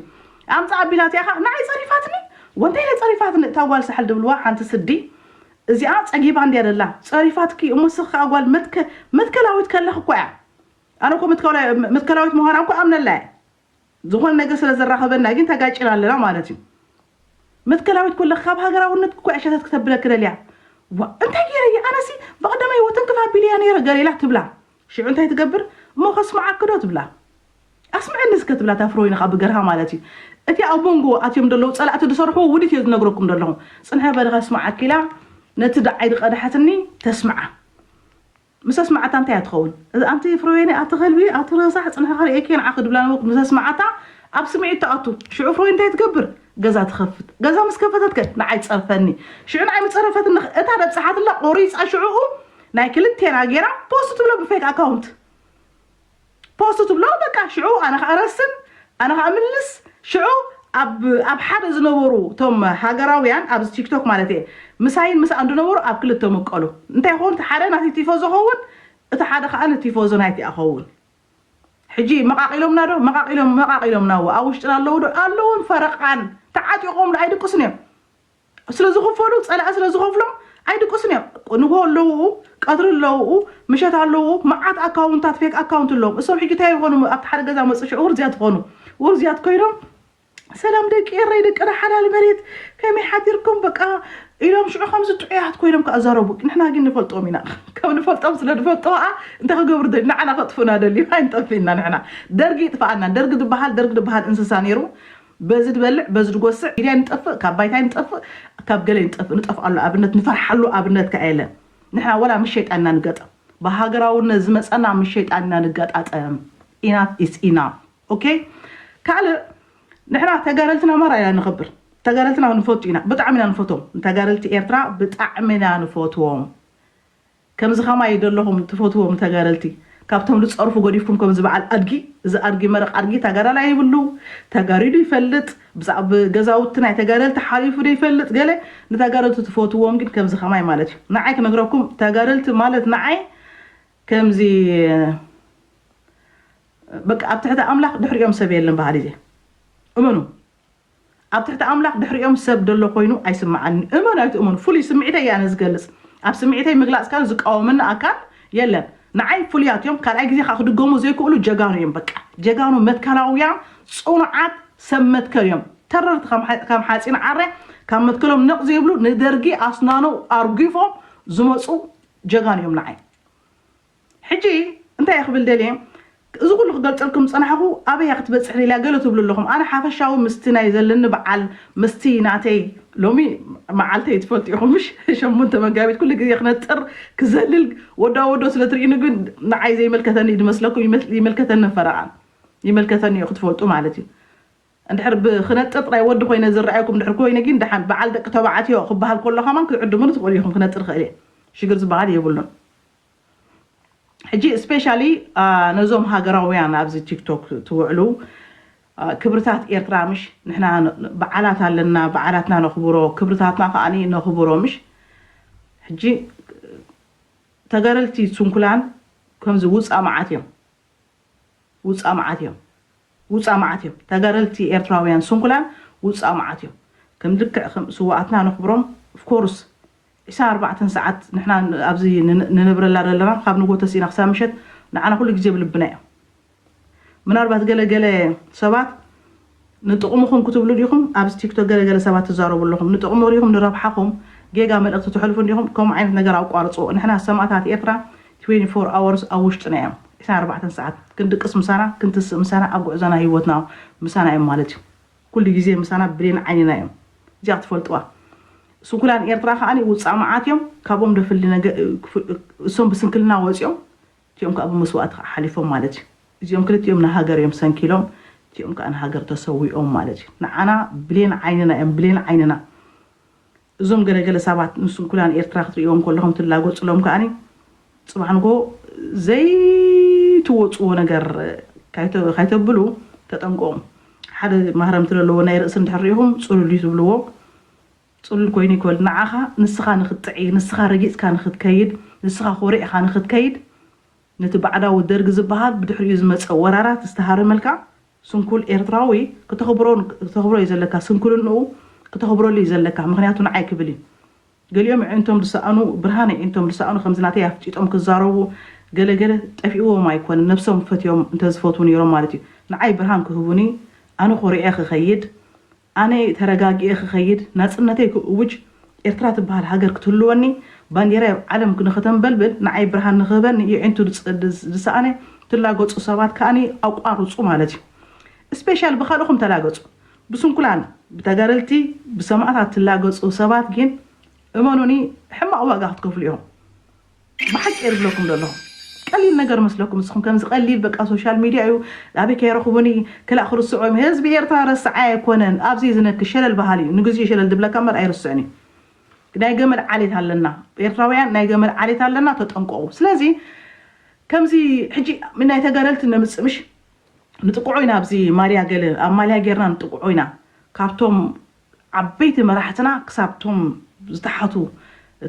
ኣምጽኣ ኣቢላ እቲኣኻ ንዓይ ጸሪፋትኒ ወንታይ ኢለ ጸሪፋትኒ እታ ጓል ሳሕል ድብልዋ ሓንቲ ስዲ እዚኣ ጸጊባ እንድያ ደላ ጸሪፋትኪ እሞ ስኺ ከኣ ጓል መትከ መትከላዊት ከለኺ እኳ እያ ኣነ እኮ መትከላዊት ምዃና እኮ ኣምነላ እየ ዝኾነ ነገር ስለ ዘራኽበና ግን ተጋጭና ኣለና ማለት እዩ መትከላዊት ኮለ ካብ ሃገራውነት እኮ ዕሸተት ክተብለኪ ደልያ ዋ እንታይ ገይረ እየ ኣነሲ ብቐደመ ህይወት እንክፍ ኣቢለ እያ ነይረ ገሌላ ትብላ ሽዑ እንታይ ትገብር እሞ ከስምዓኪ ዶ ትብላ ኣስምዐኒ እስከ ትብላ እታ ፍሮይንኻ ብገርሃ ማለት እዩ እቲ ኣብ መንጎ ኣትዮም ደለዉ ፀላእቲ ዝሰርሕዎ ውዲት እዮ ዝነግረኩም ደለኹ ፅንሐ በለ ከስምዓኪ ኢላ ነቲ ደዓይ ዝቐድሓትኒ ተስምዓ ምሰስማዓታ እንታይ እያ ትኸውን እዛ ኣንቲ ፍረወይኒ ኣቲ ከልቢ ኣቲ ረሳሕ ጽንሒ ከርእየኪ ንዓ ክድብላ ነበርኩ ምሰስማዓታ ኣብ ስምዒት ትኣቱ ሽዑ ፍረወይኒ እንታይ ትገብር ገዛ ትኸፍት ገዛ ምስ ከፈተት ከ ንዓይ ትጸርፈኒ ሽዑ ንዓይ ምጸረፈትኒ ከ እታ ደብጻሓትላ ቆሪጻ ሽዑኡ ናይ ክልቴና ጌራ ፖስት ትብሎ ብፌክ ኣካውንት ፖስት ትብሎ በቃ ሽዑ ኣነ ካኣ ረስን ኣነ ካኣ ምልስ ሽዑ ኣብ ኣብ ሓደ ዝነበሩ ቶም ሃገራውያን ኣብዚ ቲክቶክ ማለት እየ ምሳይን ምሳኣን ዝነበሩ ኣብ ክልተ ምቀሉ እንታይ ይኸውን እቲ ሓደ ናተይ ቲፎዞ ኸውን እቲ ሓደ ካኣ ንቲፎዞ ናይቲ ኣኸውን ሕጂ መቃቂሎምና ዶ መቃቂሎም መቃቂሎምና እወ ኣብ ውሽጥና ኣለዉ ዶ ኣለዉን ፈረቃን ተዓጢቆም ዶ ኣይድቅሱን እዮም ስለዝኽፈሉ ፀላኢ ስለዝኸፍሎም ኣይድቅሱን እዮም ንግሆ ኣለውኡ ቀትሪ ኣለውኡ ምሸት ኣለውኡ መዓት ኣካውንታት ፌክ ኣካውንት ኣለዎም እሶም ሕጂ እንታይ ይኾኑ ኣብቲ ሓደ ገዛ መፁ ሽዑ ውርዝያት ይኾኑ ውርዝያት ኮይኖም ሰላም ደቂ ኤረይ ደቅና ሓላል መሬት ከመይ ሓዲርኩም በቃ ኢሎም ሽዑ ከምዚ ጥዑያት ኮይኖም ከዓ ዛረቡ ንሕና ግን ንፈልጦም ኢና ከም ንፈልጦም ስለ ንፈልጦ ከዓ እንታይ ክገብሩ ደልዩ ንዓና ከጥፍኡና ደልዩ ኣይንጠፍእና ንሕና ደርጊ ይጥፍኣና ደርጊ ዝበሃል ደርጊ ዝበሃል እንስሳ ነይሩ በዚ ድበልዕ በዚ ድጎስዕ ሚድያ ኣይንጠፍእ ካብ ባይታ ኣይንጠፍእ ካብ ገለ ኣይንጠፍእ ንጠፍኣሉ ኣብነት ንፈርሓሉ ኣብነት ከኣ የለን ንሕና ወላ ምስ ሸይጣን ኢና ንገጠም ብሃገራውነት ዝመጸና ምስ ሸይጣን ኢና ንገጣጠም ኢናፍ ኢስ ኢናፍ ኦኬ ካልእ ንሕና ተጋደልቲ ናማራ ኢና ነኽብር ተጋደልትና ንፈቱ ኢና ብጣዕሚ ኢና ንፈትዎም ንተጋደልቲ ኤርትራ ብጣዕሚ ኢና ንፈትዎም ከምዚ ከማይ ደለኹም ትፈትዎም ተጋደልቲ ካብቶም ልፀርፉ ገዲፍኩም ከምዚ በዓል ኣድጊ እዚ ኣድጊ መረቅ ኣድጊ ታጋዳላይ ይብሉ ተጋሪ ዶ ይፈልጥ ብዛብ ገዛውቲ ናይ ተጋደልቲ ሓሊፉ ዶ ይፈልጥ ገለ ንታጋደልቲ ትፈትዎም ግን ከምዚ ከማይ ማለት እዩ ናዓይ ክነግረኩም ታጋደልቲ ማለት ናዓይ ከምዚ በቃ ኣብ ትሕቲ ኣምላክ ድሕሪኦም ሰብ የለን በሃሊ እየ እመኑ። ኣብ ትሕቲ ኣምላኽ ድሕሪኦም ሰብ ደሎ ኮይኑ ኣይስምዓንን እመኑ ኣይትእመኑ ፍሉይ ስምዒተይ እየ ኣነ ዝገልጽ ኣብ ስምዒተይ ምግላጽ ካን ዝቃወመኒ ኣካል የለን ንዓይ ፍሉያት እዮም ካልኣይ ግዜ ከኣ ክድገሙ ዘይክእሉ ጀጋኑ እዮም በቃ ጀጋኑ መትከላውያን ጽኑዓት ሰብ መትከል እዮም ተረርቲ ከም ሓጺን ዓረ ካብ መትከሎም ነቕ ዘይብሉ ንደርጊ ኣስናኑ ኣርጊፎም ዝመጹ ጀጋኑ እዮም ንዓይ ሕጂ እንታይ እየ ክብል ደልየ እዚ ኩሉ ክገልጸልኩም ዝጸናሕኩ ኣበይ እያ ክትበጽሕ ደልያ ገለ ትብሉ ኣለኹም ኣነ ሓፈሻዊ ምስቲ ናይ ዘለኒ በዓል ምስቲ ናተይ ሎሚ መዓልተይ ትፈልጡ ኢኹም ምሽ ሸሞንተ መጋቢት ኩሉ ግዜ ክነጥር ክዘልል ወዳ ወዶ ስለ ትርእዩኒ ግን ንዓይ ዘይመልከተኒ እዩ ዝመስለኩም ይመስ- ይመልከተኒ ፈረቓ ይመልከተኒ እዩ ክትፈልጡ ማለት እዩ እንድሕር ብክነጥር ጥራይ ወዲ ኮይነ ዝረኣየኩም እንድሕር ኮይነ ግን ደሓን በዓል ደቂ ተባዕትዮ ክበሃል ከሎ ከማን ክትዕድሙኒ ትኽእሉ ኢኹም ክነጥር ክእል እየ ሽግር ዝበሃል የብሉን ሕጂ ስፔሻሊ ነዞም ሃገራውያን ኣብዚ ቲክቶክ ትውዕሉ ክብርታት ኤርትራ ምሽ ንሕና በዓላት ኣለና በዓላትና ነኽብሮ ክብርታትና ከኣ ነኽብሮ ምሽ ሕጂ ተጋደልቲ ስንኩላን ከምዚ ውጻእ መዓት እዮም ውጻእ መዓት እዮም ውጻእ መዓት እዮም ተጋደልቲ ኤርትራውያን ስንኩላን ውጻእ መዓት እዮም ከም ልክዕ ከም ስውኣትና ነኽብሮም of course ዒስራን ኣርባዕተን ሰዓት ንሕና ኣብዚ ንነብረላ ዘለና ካብ ንግሆ ተሲእና ክሳብ ምሸት ንዓና ኩሉ ግዜ ኣብ ልብና እዮም ምናልባት ገለ ገለ ሰባት ንጥቕምኹም ክትብሉ ዲኹም ኣብዚ ቲክቶክ ገለ ገለ ሰባት ትዛረቡ ኣለኹም ንጥቕሚ ሪኢኹም ንረብሓኹም ጌጋ መልእኽቲ ተሕልፉ እንዲኹም ከምኡ ዓይነት ነገር ኣቋርጽዎ ንሕና ሰማእታት ኤርትራ ትዌኒ ፎር ኣወርስ ኣብ ውሽጥና እዮም ዕስራን ኣርባዕተን ሰዓት ክንድቅስ ምሳና ክንትስእ ምሳና ኣብ ጉዕዞና ሂወትና ምሳና እዮም ማለት እዩ ኩሉ ግዜ ምሳና ብሌን ዓይንና እዮም እዚኣ ክትፈልጥዋ ስንኩላን ኤርትራ ከኣ ውጻእ መዓት እዮም ካብኦም ደፍሊ እሶም ብስንክልና ወጽዮም እቲኦም ከኣ ብመስዋእቲ ከኣ ሓሊፎም ማለት እዩ። እዚኦም ክልቲኦም ንሃገር እዮም ሰንኪሎም፣ እቲኦም ከኣ ንሃገር ተሰዊኦም ማለት እዩ። ንዓና ብሌን ዓይንና እዮም፣ ብሌን ዓይንና። እዞም ገለ ገለ ሳባት ንስንኩላን ኤርትራ ክትርእይዎም ከለኹም ትላጎጽሎም ከኣ ጽባሕ ንግሆ ዘይትወጽዎ ነገር ካይተብሉ ተጠንቀቑ። ሓደ ማህረምቲ ለለዎ ናይ ርእሲ እንድሕር ርኢኹም ጽሉል እዩ ትብልዎ። ጽሉል ኮይኑ ይኮል ንዓኻ ንስኻ ንክትጥዒ ንስኻ ረጊጽካ ንክትከይድ ንስኻ ኮሪዕኻ ንክትከይድ ነቲ ባዕዳዊ ደርጊ ዝባሃል ብድሕሪኡ ዝመጸ ወራራት ዝተሃረመልካ ስንኩል ኤርትራዊ ክተኽብሮ ዩ ዘለካ ስንኩልንኡ ክተኽብረሉ ዩ ዘለካ ምኽንያቱ ንዓይ ክብል ዩ ገሊኦም የዒንቶም ዝሰኣኑ ብርሃን የዒንቶም ዝሰኣኑ ከምዚ ናተይ ኣፍጢጦም ክዛረቡ ገለ ገለ ጠፊእዎም ኣይኮነን ነብሶም ፈትዮም እንተዝፈትዉ ኔሮም ማለት ዩ ንዓይ ብርሃን ክህቡኒ ኣነ ኮሪዐ ክኸይድ ኣነ ተረጋጊኤ ክኸይድ፣ ናጽነተይ ክእውጅ፣ ኤርትራ ትበሃል ሃገር ክትህልወኒ፣ ባንዴራይ ኣብ ዓለም ንኸተንበልብል፣ ንዓይ ብርሃን ንኽህበኒ የዒንቱ ዝሰኣነ ትላገጹ ሰባት ከኣ ኣቋርጹ ማለት እዩ። ስፔሻል ብካልእኹም ተላገጹ። ብስንኩላን፣ ብተጋደልቲ፣ ብሰማእታት ትላገጹ ሰባት ጊን እመኑኒ ሕማቕ ዋጋ ክትከፍሉ ኢኹም። ብሓቂ እየ ዝብለኩም ዘለኹ ቀሊል ነገር መስለኩም ንስኹም ከምዚ ቀሊል በቃ ሶሻል ሚድያ እዩ ኣበይ ከይረኽቡኒ ክላእ ክርስዑ እዮም ህዝቢ ኤርትራ ረስዓይ ኣይኮነን ኣብዘይ ዝነኪ ሸለል በሃሊ እዩ ንግዚኡ ሸለል ዝብለካ እምበር ኣይርስዕን እዩ ናይ ገመል ዓሌት ኣለና ኤርትራውያን ናይ ገመል ዓሌት ኣለና ተጠንቀቑ ስለዚ ከምዚ ሕጂ ናይ ተጋደልቲ ነምጽእ ምሽ ንጥቅዖ ኢና ኣብዚ ማልያ ገለ ኣብ ማልያ ጌርና ንጥቅዖ ኢና ካብቶም ዓበይቲ መራሕትና ክሳብ ቶም ዝተሓቱ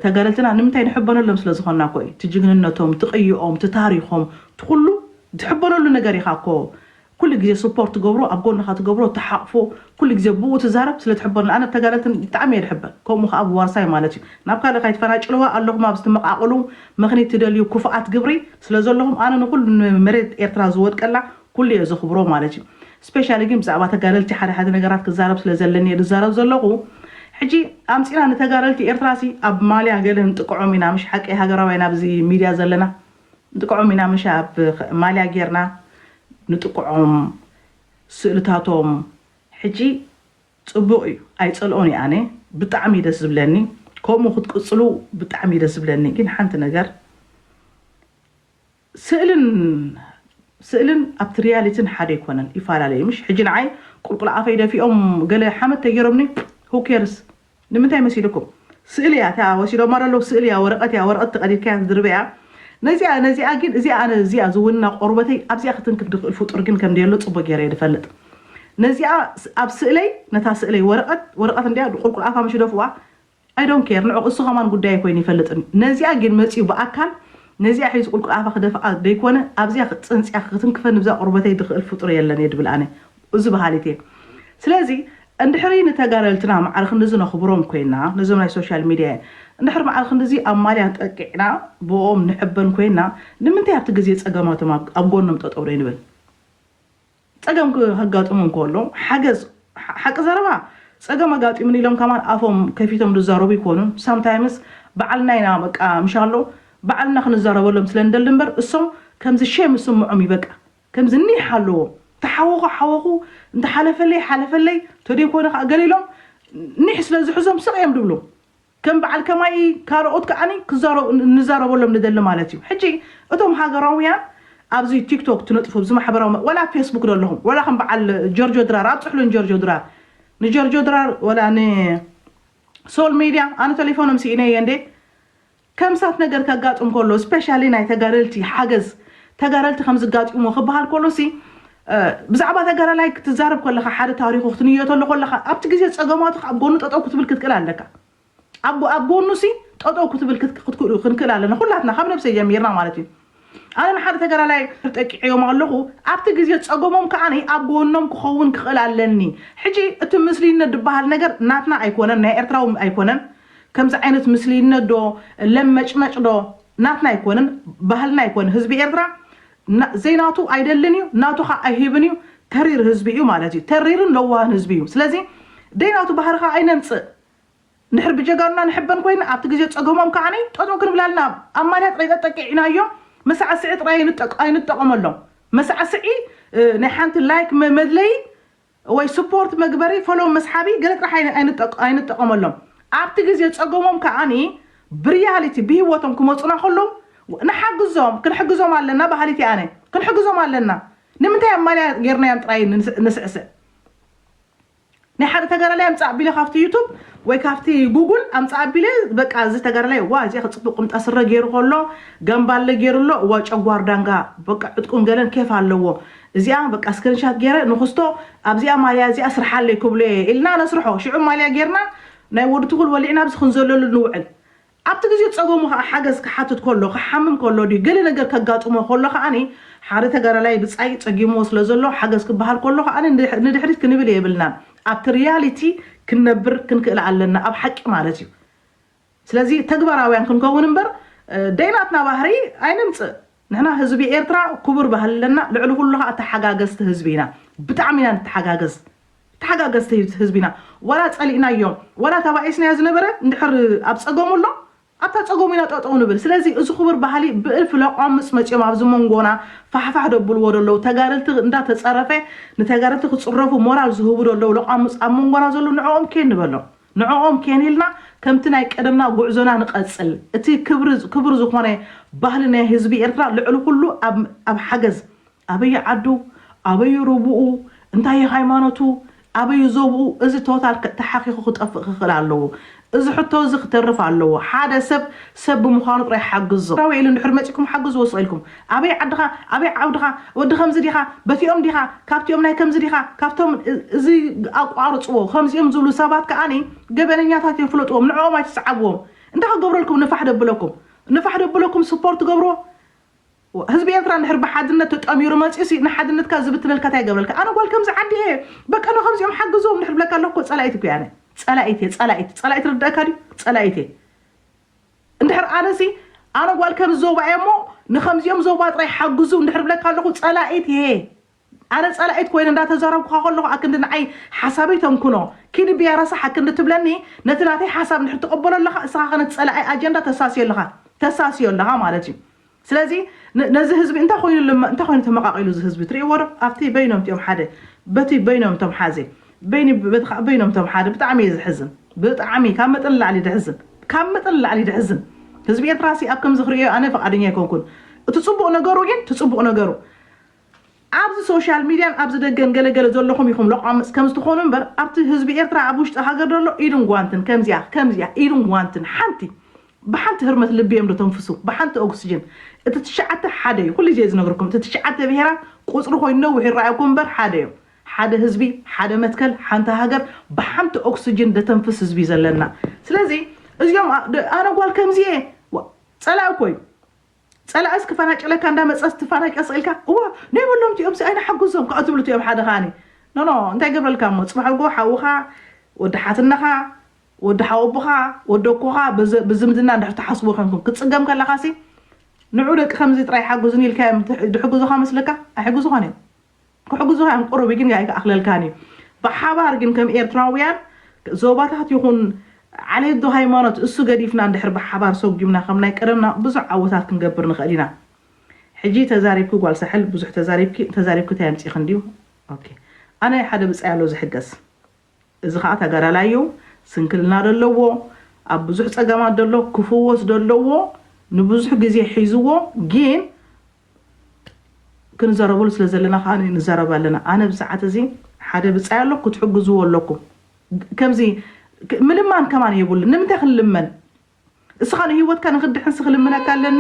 ተጋደልትና ንምንታይ ንሕበነሎም ስለ ዝኮና እኮ እዩ እቲ ጅግንነቶም እቲ ቅይኦም እቲ ታሪኮም እቲ ኩሉ ትሕበነሉ ነገር ኢካ እኮ ኩሉ ግዜ ስፖርት ትገብሮ ኣብ ጎንካ ትገብሮ ትሓቅፎ ኩሉ ግዜ ብኡ ትዛረብ ስለ ትሕበነሉ ኣነ ብተጋደልትን ብጣዕሚ እየ ድሕበ ከምኡ ከኣ ብዋርሳይ ማለት እዩ ናብ ካልእ ካይትፈናጭልዋ ኣለኩም ኣብዚ ትመቃቅሉ ምክኒት ትደልዩ ኩፉኣት ግብሪ ስለ ዘለኩም ኣነ ንኩሉ ንመሬት ኤርትራ ዝወድቀላ ኩሉ እየ ዘኽብሮ ማለት እዩ ስፔሻሊ ግን ብዛዕባ ተጋደልቲ ሓደ ሓደ ነገራት ክዛረብ ስለ ዘለኒ እየ ዝዛረብ ዘለኹ ሕጂ ኣምጺና ንተጋደልቲ ኤርትራ ሲ ኣብ ማልያ ገለ ንጥቀዖም ኢና ምሽ ሓቀይ ሃገራውያን ኣብዚ ሚድያ ዘለና ንጥቀዖም ኢና ምሽ ኣብ ማልያ ጌርና ንጥቅዖም ስእልታቶም ሕጂ ጽቡቅ እዩ ኣይጸልኦን እየ ኣነ ብጣዕሚ እዩ ደስ ዝብለኒ ከምኡ ክትቅጽሉ ብጣዕሚ እዩ ደስ ዝብለኒ ግን ሓንቲ ነገር ስእልን ስእልን ኣብቲ ርያሊትን ሓደ ኣይኮነን ይፋላለዩ ምሽ ሕጂ ንዓይ ቁልቁል ኣፈይ ደፊኦም ገለ ሓመድ ተጌሮምኒ who cares ንምንታይ መሲልኩም ስእሊ እያ እታ ወሲዶማ ዶ ኣለዉ ስእሊ እያ ወረቀት እያ ወረቀት ተቀዲድካያ ትድርበ እያ ነዚኣ ነዚኣ ግን እዚኣ ኣነ እዚኣ ዝውንና ቆርበተይ ኣብዚኣ ክትንክፍ ድኽእል ፍጡር ግን ከም ደየሎ ጽቡቅ ጌረ እየ ድፈልጥ ነዚኣ ኣብ ስእለይ ነታ ስእለይ ወረቀት ወረቀት እንድያ ቁልቁል ኣፋ ምሽ ደፍዋ I don't care ንዑ እሱ ከማን ጉዳየይ ኮይኑ ይፈልጥን ነዚኣ ጊን መጺኡ ብኣካል ነዚኣ ሒዙ ቁልቁል ኣፋ ክደፍኣ ደይኮነ ኣብዚኣ ጽንጺኣ ክትንክፈኒ ብዛ ቁርበተይ ድክእል ፉጡር የለን እየ ድብል ኣነ እዙ በሃሊት እየ ስለዚ እንድሕሪ ንተጋደልትና ማዕረ ክንድዚ ነክብሮም ኮይና ነዞም ናይ ሶሻል ሚድያ እንድሕሪ ማዕረ ክንድዚ ኣብ ማልያ ጠቂዕና ብእኦም ንሕበን ኮይና ንምንታይ ኣብቲ ግዜ ጸገማቶም ኣብ ጎኖም ጠጠው ደይንብል ጸገም ከጋጥሙ እንከሎ ሓገዝ ሓቂ ዘረባ ጸገም ኣጋጢሙኒ ኢሎም ከማን ኣፎም ከፊቶም ዝዛረቡ ኣይኮኑን ሳምታይምስ በዓል ናይና በቃ ምሻሎ በዓልና ክንዛረበሎም ስለ ንደሊ እምበር እሶም ከምዚ ሼም ዝስምዖም እዩ በቃ ከምዚ ኒሕ ኣለዎም ተሓወኹ ሓወኹ እንተ ሓለፈለይ ሓለፈለይ ተደይኮነ ከኣ ገለ ኢሎም ኒሕ ስለ ዝሕዞም ስቅ እዮም ዝብሉ ከም በዓል ከማይ ካልኦት ከኣ ክዛረቡ ንዛረበሎም ንደሊ ማለት እዩ ሕጂ እቶም ሃገራውያን ኣብዚ ቲክቶክ ትነጥፉ ኣብዚ ማሕበራዊ መ ወላ ኣብ ፌስቡክ ደለኹም ወላ ከም በዓል ጀርጆ ድራር ኣብጽሕሉ ንጀርጆ ድራር ንጀርጆ ድራር ወላ ን ሶል ሜድያ ኣነ ተሌፎኖም ስኢነየ እንዴ ከምሳት ነገር ከጋጥም ከሎ ስፔሻሊ ናይ ተጋደልቲ ሓገዝ ተጋደልቲ ከምዚ ጋጢሙ ክበሃል ከሎ ሲ ብዛዕባ ተጋዳላይ ክትዛረብ ከለኻ ሓደ ታሪኹ ክትንየተሉ ከለኻ ኣብቲ ግዜ ጸገማቱ ኣብ ጎኑ ጠጠው ክትብል ክትክእል ኣለካ። ኣብ ኣብ ጎኑ ሲ ጠጠው ክትብል ክንክእል ኣለና ኩላትና ካብ ነብሰይ ጀሚርና ማለት እዩ። ኣነ ንሓደ ተጋዳላይ ጠቂዐዮም ኣለኹ ኣብቲ ግዜ ጸገሞም ከኣ ኣብ ጎኖም ክኸውን ክኽእል ኣለኒ። ሕጂ እቲ ምስልይነት ድበሃል ነገር ናትና ኣይኮነን ናይ ኤርትራዊ ኣይኮነን ከምዚ ዓይነት ምስልይነት ዶ ለመጭመጭ ዶ ናትና ኣይኮነን ባህልና ኣይኮነን ህዝቢ ኤርትራ ዘይናቱ ኣይደልን እዩ ናቱ ካዓ ኣይህብን እዩ ተሪር ህዝቢ እዩ ማለት እዩ ተሪርን ለዋህን ህዝቢ እዩ ስለዚ ደይናቱ ባህሪ ካዓ ኣይነምፅእ እንድሕር ብጀጋኑና ንሕበን ኮይና ኣብቲ ግዜ ፀገሞም ካዓ ጠጠው ክንብላ ኣለና ኣብ ማልያ ጥራይ ጠጠቂዕናዮ መሳዕስዒ ጥራይ ኣይንጠቀመሎም መሳዕስዒ ናይ ሓንቲ ላይክ መድለይ ወይ ስፖርት መግበሪ ፎሎው መስሓቢ ገለ ጥራሕ ኣይንጠቐመሎም ኣብቲ ግዜ ጸገሞም ከኣ ብርያሊቲ ብሂወቶም ክመጹና ከሎው ንሓግዞም ክንሕግዞም ኣለና በሃሊት እየ ኣነ ክንሕግዞም ኣለና ንምንታይ ኣብ ማልያ ጌርናዮም ጥራይ ንስዕስዕ ናይ ሓደ ተጋዳላይ ኣምጻእ ኣቢለ ካብቲ ዩቱብ ወይ ካብቲ ጉጉል ኣምጻእ ኣቢለ በቃ እዚ ተጋዳላይ ዋ እዚኣ ክጽቡቅ ቁምጣ ስረ ገይሩ ከሎ ገምባለ ገይሩ ኣሎ እዋ ጨጓር ዳንጋ በቃ ዕጥቁን ገለን ኬፍ ኣለዎ እዚኣ በቃ ስክሪንሻት ጌረ ንኹስቶ ኣብዚኣ ማልያ እዚኣ ስርሓለይ ክብሎ እየ ኢልና ነስርሖ ሽዑ ማልያ ጌርና ናይ ወዲ ትኹል ወሊዕና ኣብዚ ክንዘለሉ ንውዕል ኣብቲ ግዜ ጸገሙ ከኣ ሓገዝ ክሓትት ከሎ ክሓምም ከሎ ድዩ ገለ ነገር ከጋጥሞ ከሎ ከኣ ሓደ ተጋዳላይ ብጻይ ጸጊምዎ ስለ ዘሎ ሓገዝ ክበሃል ከሎ ከኣ ንድሕሪት ክንብል የብልናን ኣብቲ ሪያሊቲ ክንነብር ክንክእል ኣለና ኣብ ሓቂ ማለት እዩ ስለዚ ተግባራውያን ክንከውን እምበር ደይናትና ባህሪ ኣይነምጽእ ንሕና ህዝቢ ኤርትራ ኩቡር ባህሊ ኣለና ልዕሊ ኩሉ ካኣ ተሓጋገዝቲ ህዝቢ ኢና ብጣዕሚ ኢና ንተሓጋገዝ ተሓጋገዝቲ ህዝቢ ኢና ዋላ ጸሊእናዮ ዋላ ተባኢስናዮ ዝነበረ እንድሕር ኣብ ጸገሙ ኣሎ ኣብታ ጸገሙ ኢና ጠጠው ንብል ስለዚ እዚ ኩቡር ባህሊ ብእልፊ ለቋምጽ መጽዮም ኣብዚ ሞንጎና ፋሕፋሕ ደብልዎ ደለዉ ተጋደልቲ እንዳ ተጸረፈ ንተጋደልቲ ክጽረፉ ሞራል ዝህቡ ደለዉ ለቋምጽ ኣብ ሞንጎና ዘሎ ንዕኦም ኬን ንበሎም ንዕኦም ኬንኢልና ከምቲ ናይ ቀደምና ጉዕዞና ንቐጽል። እቲ ክብሪ ክቡር ዝኾነ ባህሊ ናይ ህዝቢ ኤርትራ ልዕሊ ኩሉ ኣብ ኣብ ሓገዝ ኣበዩ ዓዱ ኣበዩ ሩቡኡ እንታዩ ሃይማኖቱ ኣበዩ ዞብኡ እዚ ቶታል ተሓኺኹ ክጠፍእ ክኽእል ኣለዎ። እዚ ሕቶ እዚ ክተርፍ ኣለዎ። ሓደ ሰብ ሰብ ብምዃኑ ጥራይ ሓግዞ። ራዊ ኢሉ እንድሕሪ መጺኩም ሓግዝዎ ስቕ ኢልኩም። ኣበይ ዓድኻ ኣበይ ዓውድኻ ወዲ ከምዚ ዲኻ በቲኦም ዲኻ ካብቲኦም ናይ ከምዚ ዲኻ ካብቶም እዚ ኣቋርጽዎ ከምዚኦም ዝብሉ ሰባት ከኣኒ ገበነኛታት እዮም ፍለጥዎም ንዕኦም ኣይትስዓብዎም እንታይ ክገብረልኩም ንፋሕ ደብለኩም ንፋሕ ደብለኩም ስፖርት ትገብርዎ ህዝቢ ኤርትራ እንድሕር ብሓድነት ተጠሚሩ መጺኡሲ ንሓድነትካ ዝብትነልካ እንታይ ይገብረልካ ኣነ ጓል ከምዚ ዓዲ እየ በቃ ንከምዚኦም ሓግዝዎም እንድሕር ብለካ ኣለኩ ጸላኢት እኮ እየ ኣነ ጸላኢት እየ ጸላኢት ጸላኢት ርድኣካ ድዩ ጸላኢት እየ እንድሕር ኣነሲ ኣነ ጓል ከምዚ ዞባ እየ እሞ ንከምዚኦም ዞባ ጥራይ ሓግዙ እንድሕር ብለካ ኣለኹ ጸላኢት እየ ኣነ ጸላኢት ኮይነ እንዳተዛረብኩኻ ከለኹ ኣክንዲ ንዓይ ሓሳበይ ተምኩኖ ኪዲ ብያ ረሳሕ ኣክንዲ ትብለኒ ነቲ ናተይ ሓሳብ እንድሕር ትቕበሎ ኣለኻ እስኻ ከ ነቲ ጸላኢ ኣጀንዳ ተሳስዮ ኣለኻ ተሳስዮ ኣለኻ ማለት እዩ ስለዚ ነዚ ህዝቢ እንታይ ኮይኑ እንታይ ኮይኑ ተመቃቂሉ እዚ ህዝቢ ትሪእዎ ዶ ኣብቲ በይኖም እቲኦም ሓደ በቲ በይኖም እቶም ሓዘ በይኒ በቲ ካኣ በይኖም እቶም ሓደ ብጣዕሚ እየ ዝሕዝን ብጣዕሚ ካብ መጠን ንላዕሊ ደሕዝን ካብ መጠን ንላዕሊ ደሕዝን ህዝቢ ኤርትራሲ ኣብ ከምዚ ክርእዮ ኣነ ፍቃደኛ ኣይኮንኩን እቲ ጽቡቅ ነገሩ ግን እቲ ጽቡቅ ነገሩ ኣብዚ ሶሻል ሚድያን ኣብዚ ደገን ገለ ገለ ዘለኹም ኢኹም ሎቋምጽ ከምዚ ትኾኑ እምበር ኣብቲ ህዝቢ ኤርትራ ኣብ ውሽጢ ሃገር ዘሎ ኢድን ጓንትን ከምዚኣ ከምዚኣ ኢድን ጓንትን ሓንቲ ብሓንቲ ህርመት ልቢ እዮም ደተንፍሱ ብሓንቲ ኦግስጅን እቲ ትሽዓተ ሓደ እዩ ኩሉ ግዜ ዝነግረኩም እቲ ትሽዓተ ብሄራት ቁጽሪ ኮይኑ ነዊሕ ይረኣየኩም እምበር ሓደ እዮም ሓደ ህዝቢ ሓደ መትከል ሓንቲ ሃገር ብሓንቲ ኦግስጅን ደተንፍስ ህዝቢ እዩ ዘለና ስለዚ እዚኦም ኣነ ጓል ከምዚ እየ ጸላኢ እኮ እዩ ጸላእስ ክፈናጭለካ እንዳ መጸስ ትፋናጨጽ ኢልካ እዋ ነይብሎም ቲኦምሲ ኣይንሓጉዞም ካኦ ትብሉ ቲኦም ሓደ ካኒ ኖኖ እንታይ ገብረልካ እሞ ጽባሕጎ ሓውኻ ወዲ ሓትነኻ ወዲ ሓወቦኻ ወዲ ኣኮኻ ብዝምድና እንድሕር ትሓስቡ ኮንኩም ክትጽገም ከለኻሲ ንዑ ደቂ ከምዚ ጥራይ ሓጉዝኒ ኢልካዮም ድሕጉዙኻ መስለካ ኣይሕጉዙኻን እዮም ክሕግዙኻ እዮም ቁሩብ ግን ኣይክኣኽለልካን እዩ ብሓባር ግን ከም ኤርትራውያን ዞባታት ይኹን ዓሌት ዶ ሃይማኖት እሱ ገዲፍና እንድሕር ብሓባር ሰጉምና ከም ናይ ቀደምና ብዙሕ ዓወታት ክንገብር ንኽእል ኢና ሕጂ ተዛሪብኪ ጓል ሳሕል ብዙሕ ተዛሪብኪ ተዛሪብኪ ታይ ኣምጺኺ እንድዩ ኦኬ ኣነ ሓደ ብጻይ ኣሎ ዝሕገዝ እዚ ከኣ ተጋዳላይ እዩ ስንክልና ደለዎ ኣብ ብዙሕ ጸገማት ደሎ ክፍወስ ደለዎ ንብዙሕ ግዜ ሒዝዎ ጊን ክንዘረበሉ ስለ ዘለና ከኣ ንዘረብ ኣለና ኣነ ኣብዚ ሰዓት እዚ ሓደ ብጻይ ኣሎ ክትሕግዝዎ ኣለኩም ከምዚ ምልማን ከማን የብሉ ንምንታይ ክንልመን እስኻ ንህይወትካ ንክድሕን ስክልምነካ ኣለኒ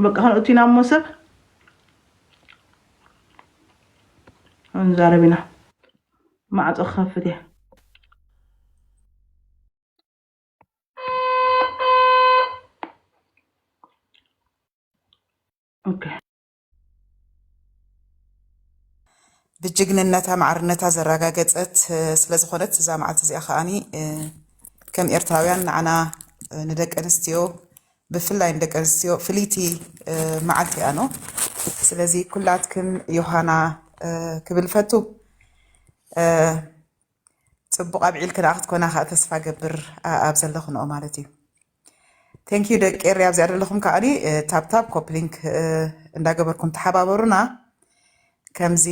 በቃ ክንእቲና እሞ ሰብ ክንዛረብ ኢና ማዕፆ ክኸፍት እየ ብጅግንነታ ማዕርነታ ዘረጋገፀት ስለዝኾነት እዛ መዓልቲ እዚኣ ከዓኒ ከም ኤርትራውያን ንዓና ንደቂ ኣንስትዮ ብፍላይ ንደቂ ኣንስትዮ ፍልይቲ መዓልቲ እያ ኖ ስለዚ ኩላትክን ዮሃና ክብል ፈቱ ፅቡቕ ኣብዒል ክደኣ ክትኮና ከዓ ተስፋ ገብር ኣብ ዘለኹንኦ ማለት እዩ ቴንኪዩ ደቂ ኤሪ ኣብዚኣ ዘለኹም ከዓ ታብታብ ኮፕሊንክ እንዳገበርኩም ተሓባበሩና ከምዚ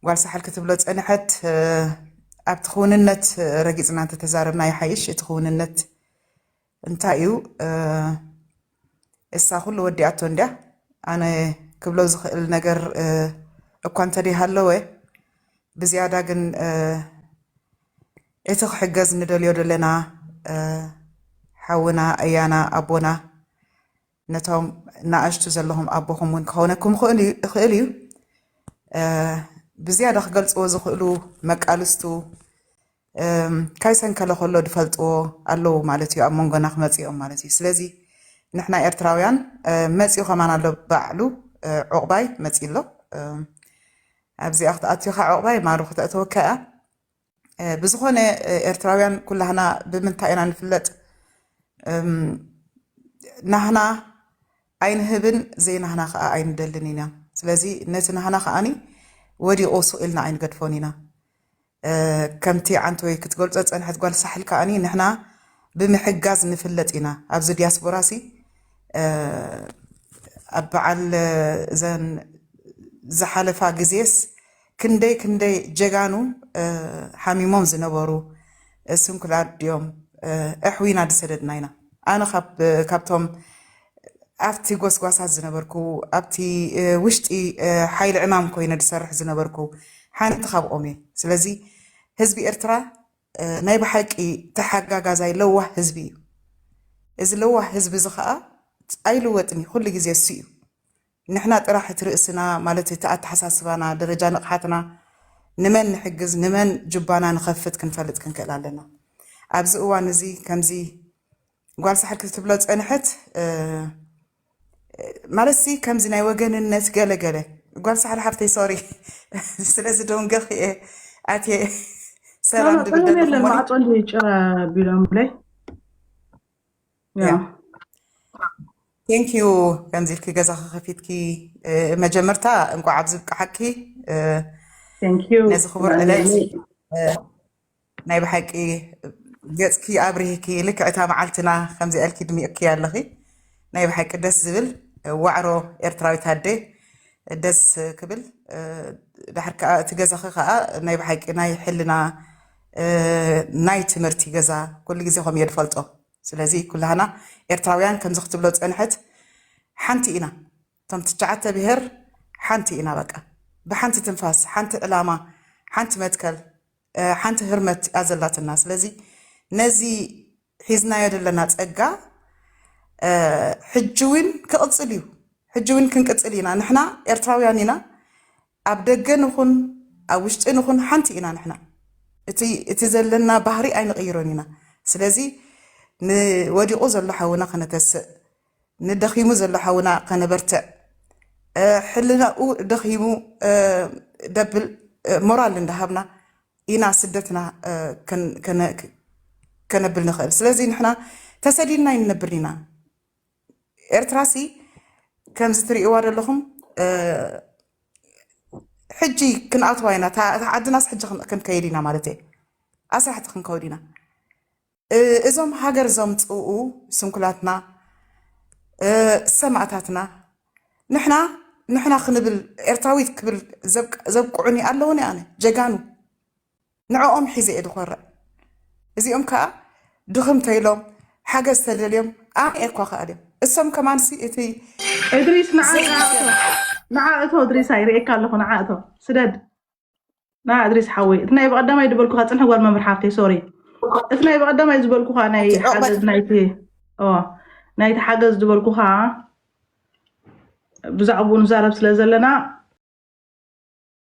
ጓል ሳሕል ክትብሎ ፀንሐት ኣብቲ ክውንነት ረጊፅና እንተተዛረብና ይሓይሽ እቲ ክውንነት እንታይ እዩ እሳ ኩሉ ወዲኣቶ እንድያ ኣነ ክብሎ ዝኽእል ነገር እኳ እንተደይሃለወ ብዝያዳ ግን እቲ ክሕገዝ ንደልዮ ዘለና ሓውና ኣያና ኣቦና ነቶም ናኣሽቱ ዘለኹም ኣቦኹም ውን ክኾነኩም ይኽእል እዩ ብዝያዳ ክገልጽዎ ዝኽእሉ መቃልስቱ ካይሰንከለ ከሎ ድፈልጥዎ ኣለዉ ማለት እዩ ኣብ መንጎና ክመጽኦም ማለት እዩ ስለዚ ንሕና ኤርትራውያን መጽኡ ከማን ኣሎ ባዕሉ ዑቕባይ መጺ ኣሎ ኣብዚኣ ክትኣትዮኻ ዑቕባይ ማሩ ክተእተወካ እያ ብዝኾነ ኤርትራውያን ኩላህና ብምንታይ ኢና ንፍለጥ ናህና ኣይንህብን ዘይናህና ከዓ ኣይንደልን ኢና ስለዚ ነቲ ናህና ከዓኒ ወዲቑ ሱቕ ኢልና ኣይንገድፎን ኢና ከምቲ ዓንተወይ ክትገልጾ ዝፀንሐት ጓል ሳሕል ከዓኒ ንሕና ብምሕጋዝ ንፍለጥ ኢና ኣብዚ ዲያስፖራ ሲ ኣብ በዓል እዘን ዝሓለፋ ግዜስ ክንደይ ክንደይ ጀጋኑ ሓሚሞም ዝነበሩ ስንኩላት ድዮም ኣሕዊና ዝሰደድና ኢና። ኣነ ካብቶም ኣብቲ ጎስጓሳት ዝነበርኩ ኣብቲ ውሽጢ ሓይሊ ዕማም ኮይነ ዝሰርሕ ዝነበርኩ ሓንቲ ካብኦም እየ። ስለዚ ህዝቢ ኤርትራ ናይ ብሓቂ ተሓጋጋዛይ ለዋህ ህዝቢ እዩ። እዚ ለዋህ ህዝቢ እዚ ከዓ ኣይልወጥን እዩ፣ ኩሉ ግዜ እሱ እዩ። ንሕና ጥራሕ እቲ ርእስና ማለት እቲ ኣተሓሳስባና ደረጃ ንቕሓትና ንመን ንሕግዝ ንመን ጁባና ንኸፍት ክንፈልጥ ክንክእል ኣለና ኣብዚ እዋን እዚ ከምዚ ጓል ሳሕል ክትብሎ ዝጸንሐት ማለትሲ ከምዚ ናይ ወገንነት ገለ ገለ ጓል ሳሕል ሓፍተይ ሶሪ ስለዚ ደንገኽ እየ ኣትየ ሰላም ድብል ደለኹ ማዕጾ ጭራ ቢሎምለይ ቴንክ ዩ ከምዚ ኢልኪ ገዛኺ ከፊትኪ መጀመርታ እንቋዕ ኣብዚ ብቅዓኪ ነዚ ክቡር ዕለት ናይ ብሓቂ ገፅኪ ኣብርሂኪ ልክዕታ መዓልትና ከምዚ ኣልኪ ድሚቕኪ ኣለኺ ናይ ብሓቂ ደስ ዝብል ዋዕሮ ኤርትራዊት ኣደ ደስ ክብል ድሕር ከዓ እቲ ገዛኺ ከዓ ናይ ብሓቂ ናይ ሕልና ናይ ትምህርቲ ገዛ ኩሉ ግዜ ከምኡ እየ ዝፈልጦ ስለዚ ኩላህና ኤርትራውያን ከምዚ ክትብሎ ዝጸንሐት ሓንቲ ኢና እቶም ትቻዓተ ብሄር ሓንቲ ኢና በቃ ብሓንቲ ትንፋስ ሓንቲ ዕላማ ሓንቲ መትከል ሓንቲ ህርመት እያ ዘላትና ስለዚ ነዚ ሒዝናዮ ዘለና ጸጋ ሕጂ እውን ክቕጽል እዩ ሕጂ እውን ክንቅጽል ኢና ንሕና ኤርትራውያን ኢና ኣብ ደገ ንኹን ኣብ ውሽጢ ንኹን ሓንቲ ኢና ንሕና እቲ እቲ ዘለና ባህሪ ኣይንቕይሮን ኢና ስለዚ ንወዲቑ ዘሎ ሓውና ከነተስእ ንደኺሙ ዘሎ ሓውና ከነበርትዕ ሕልናኡ ደኺሙ ደብል ሞራል እንዳሃብና ኢና ስደትና ከነብል ንኽእል ስለዚ ንሕና ተሰዲድና ይንነብር ኢና ኤርትራሲ ከምዚ ትርእይዋ ዘለኹም ሕጂ ክንኣትዋ ኢና እታ ዓድናስ ሕጂ ክንከይድ ኢና ማለት እየ ኣስራሕቲ ክንከውድ ኢና እዞም ሃገር ዘምፅኡ ስንኩላትና ሰማእታትና ንሕና ንሕና ክንብል ኤርትራዊት ክብል ዘብቅዑኒ ኣለዉኒ ኣነ ጀጋኑ ንዕኦም ሒዘ እየ ዝኮርዕ እዚኦም ከዓ ድኽም ተይሎም ሓገዝ ተደልዮም ኣነ እየ ኳ ክኣል እዮም እሶም ከማንሲ እቲ እድሪስ ንዓ ንዓ እቶ እድሪሳ ይርእየካ ኣለኹ ንዓ እቶ ስደድ ንዓ እድሪስ ሓወይ እቲ ናይ በቐዳማይ ዝበልኩኻ ፅንሒ ጓል መምህር ሓፍተይ ሶሪ እቲ ናይ በቐዳማይ ዝበልኩኻ ናይ እቲ ዑቕበት- ሓገዝ ናይቲ ኦ፣ ናይቲ ሓገዝ ዝበልኩኻ ብዛዕባኡ ንዛረብ ስለ ዘለና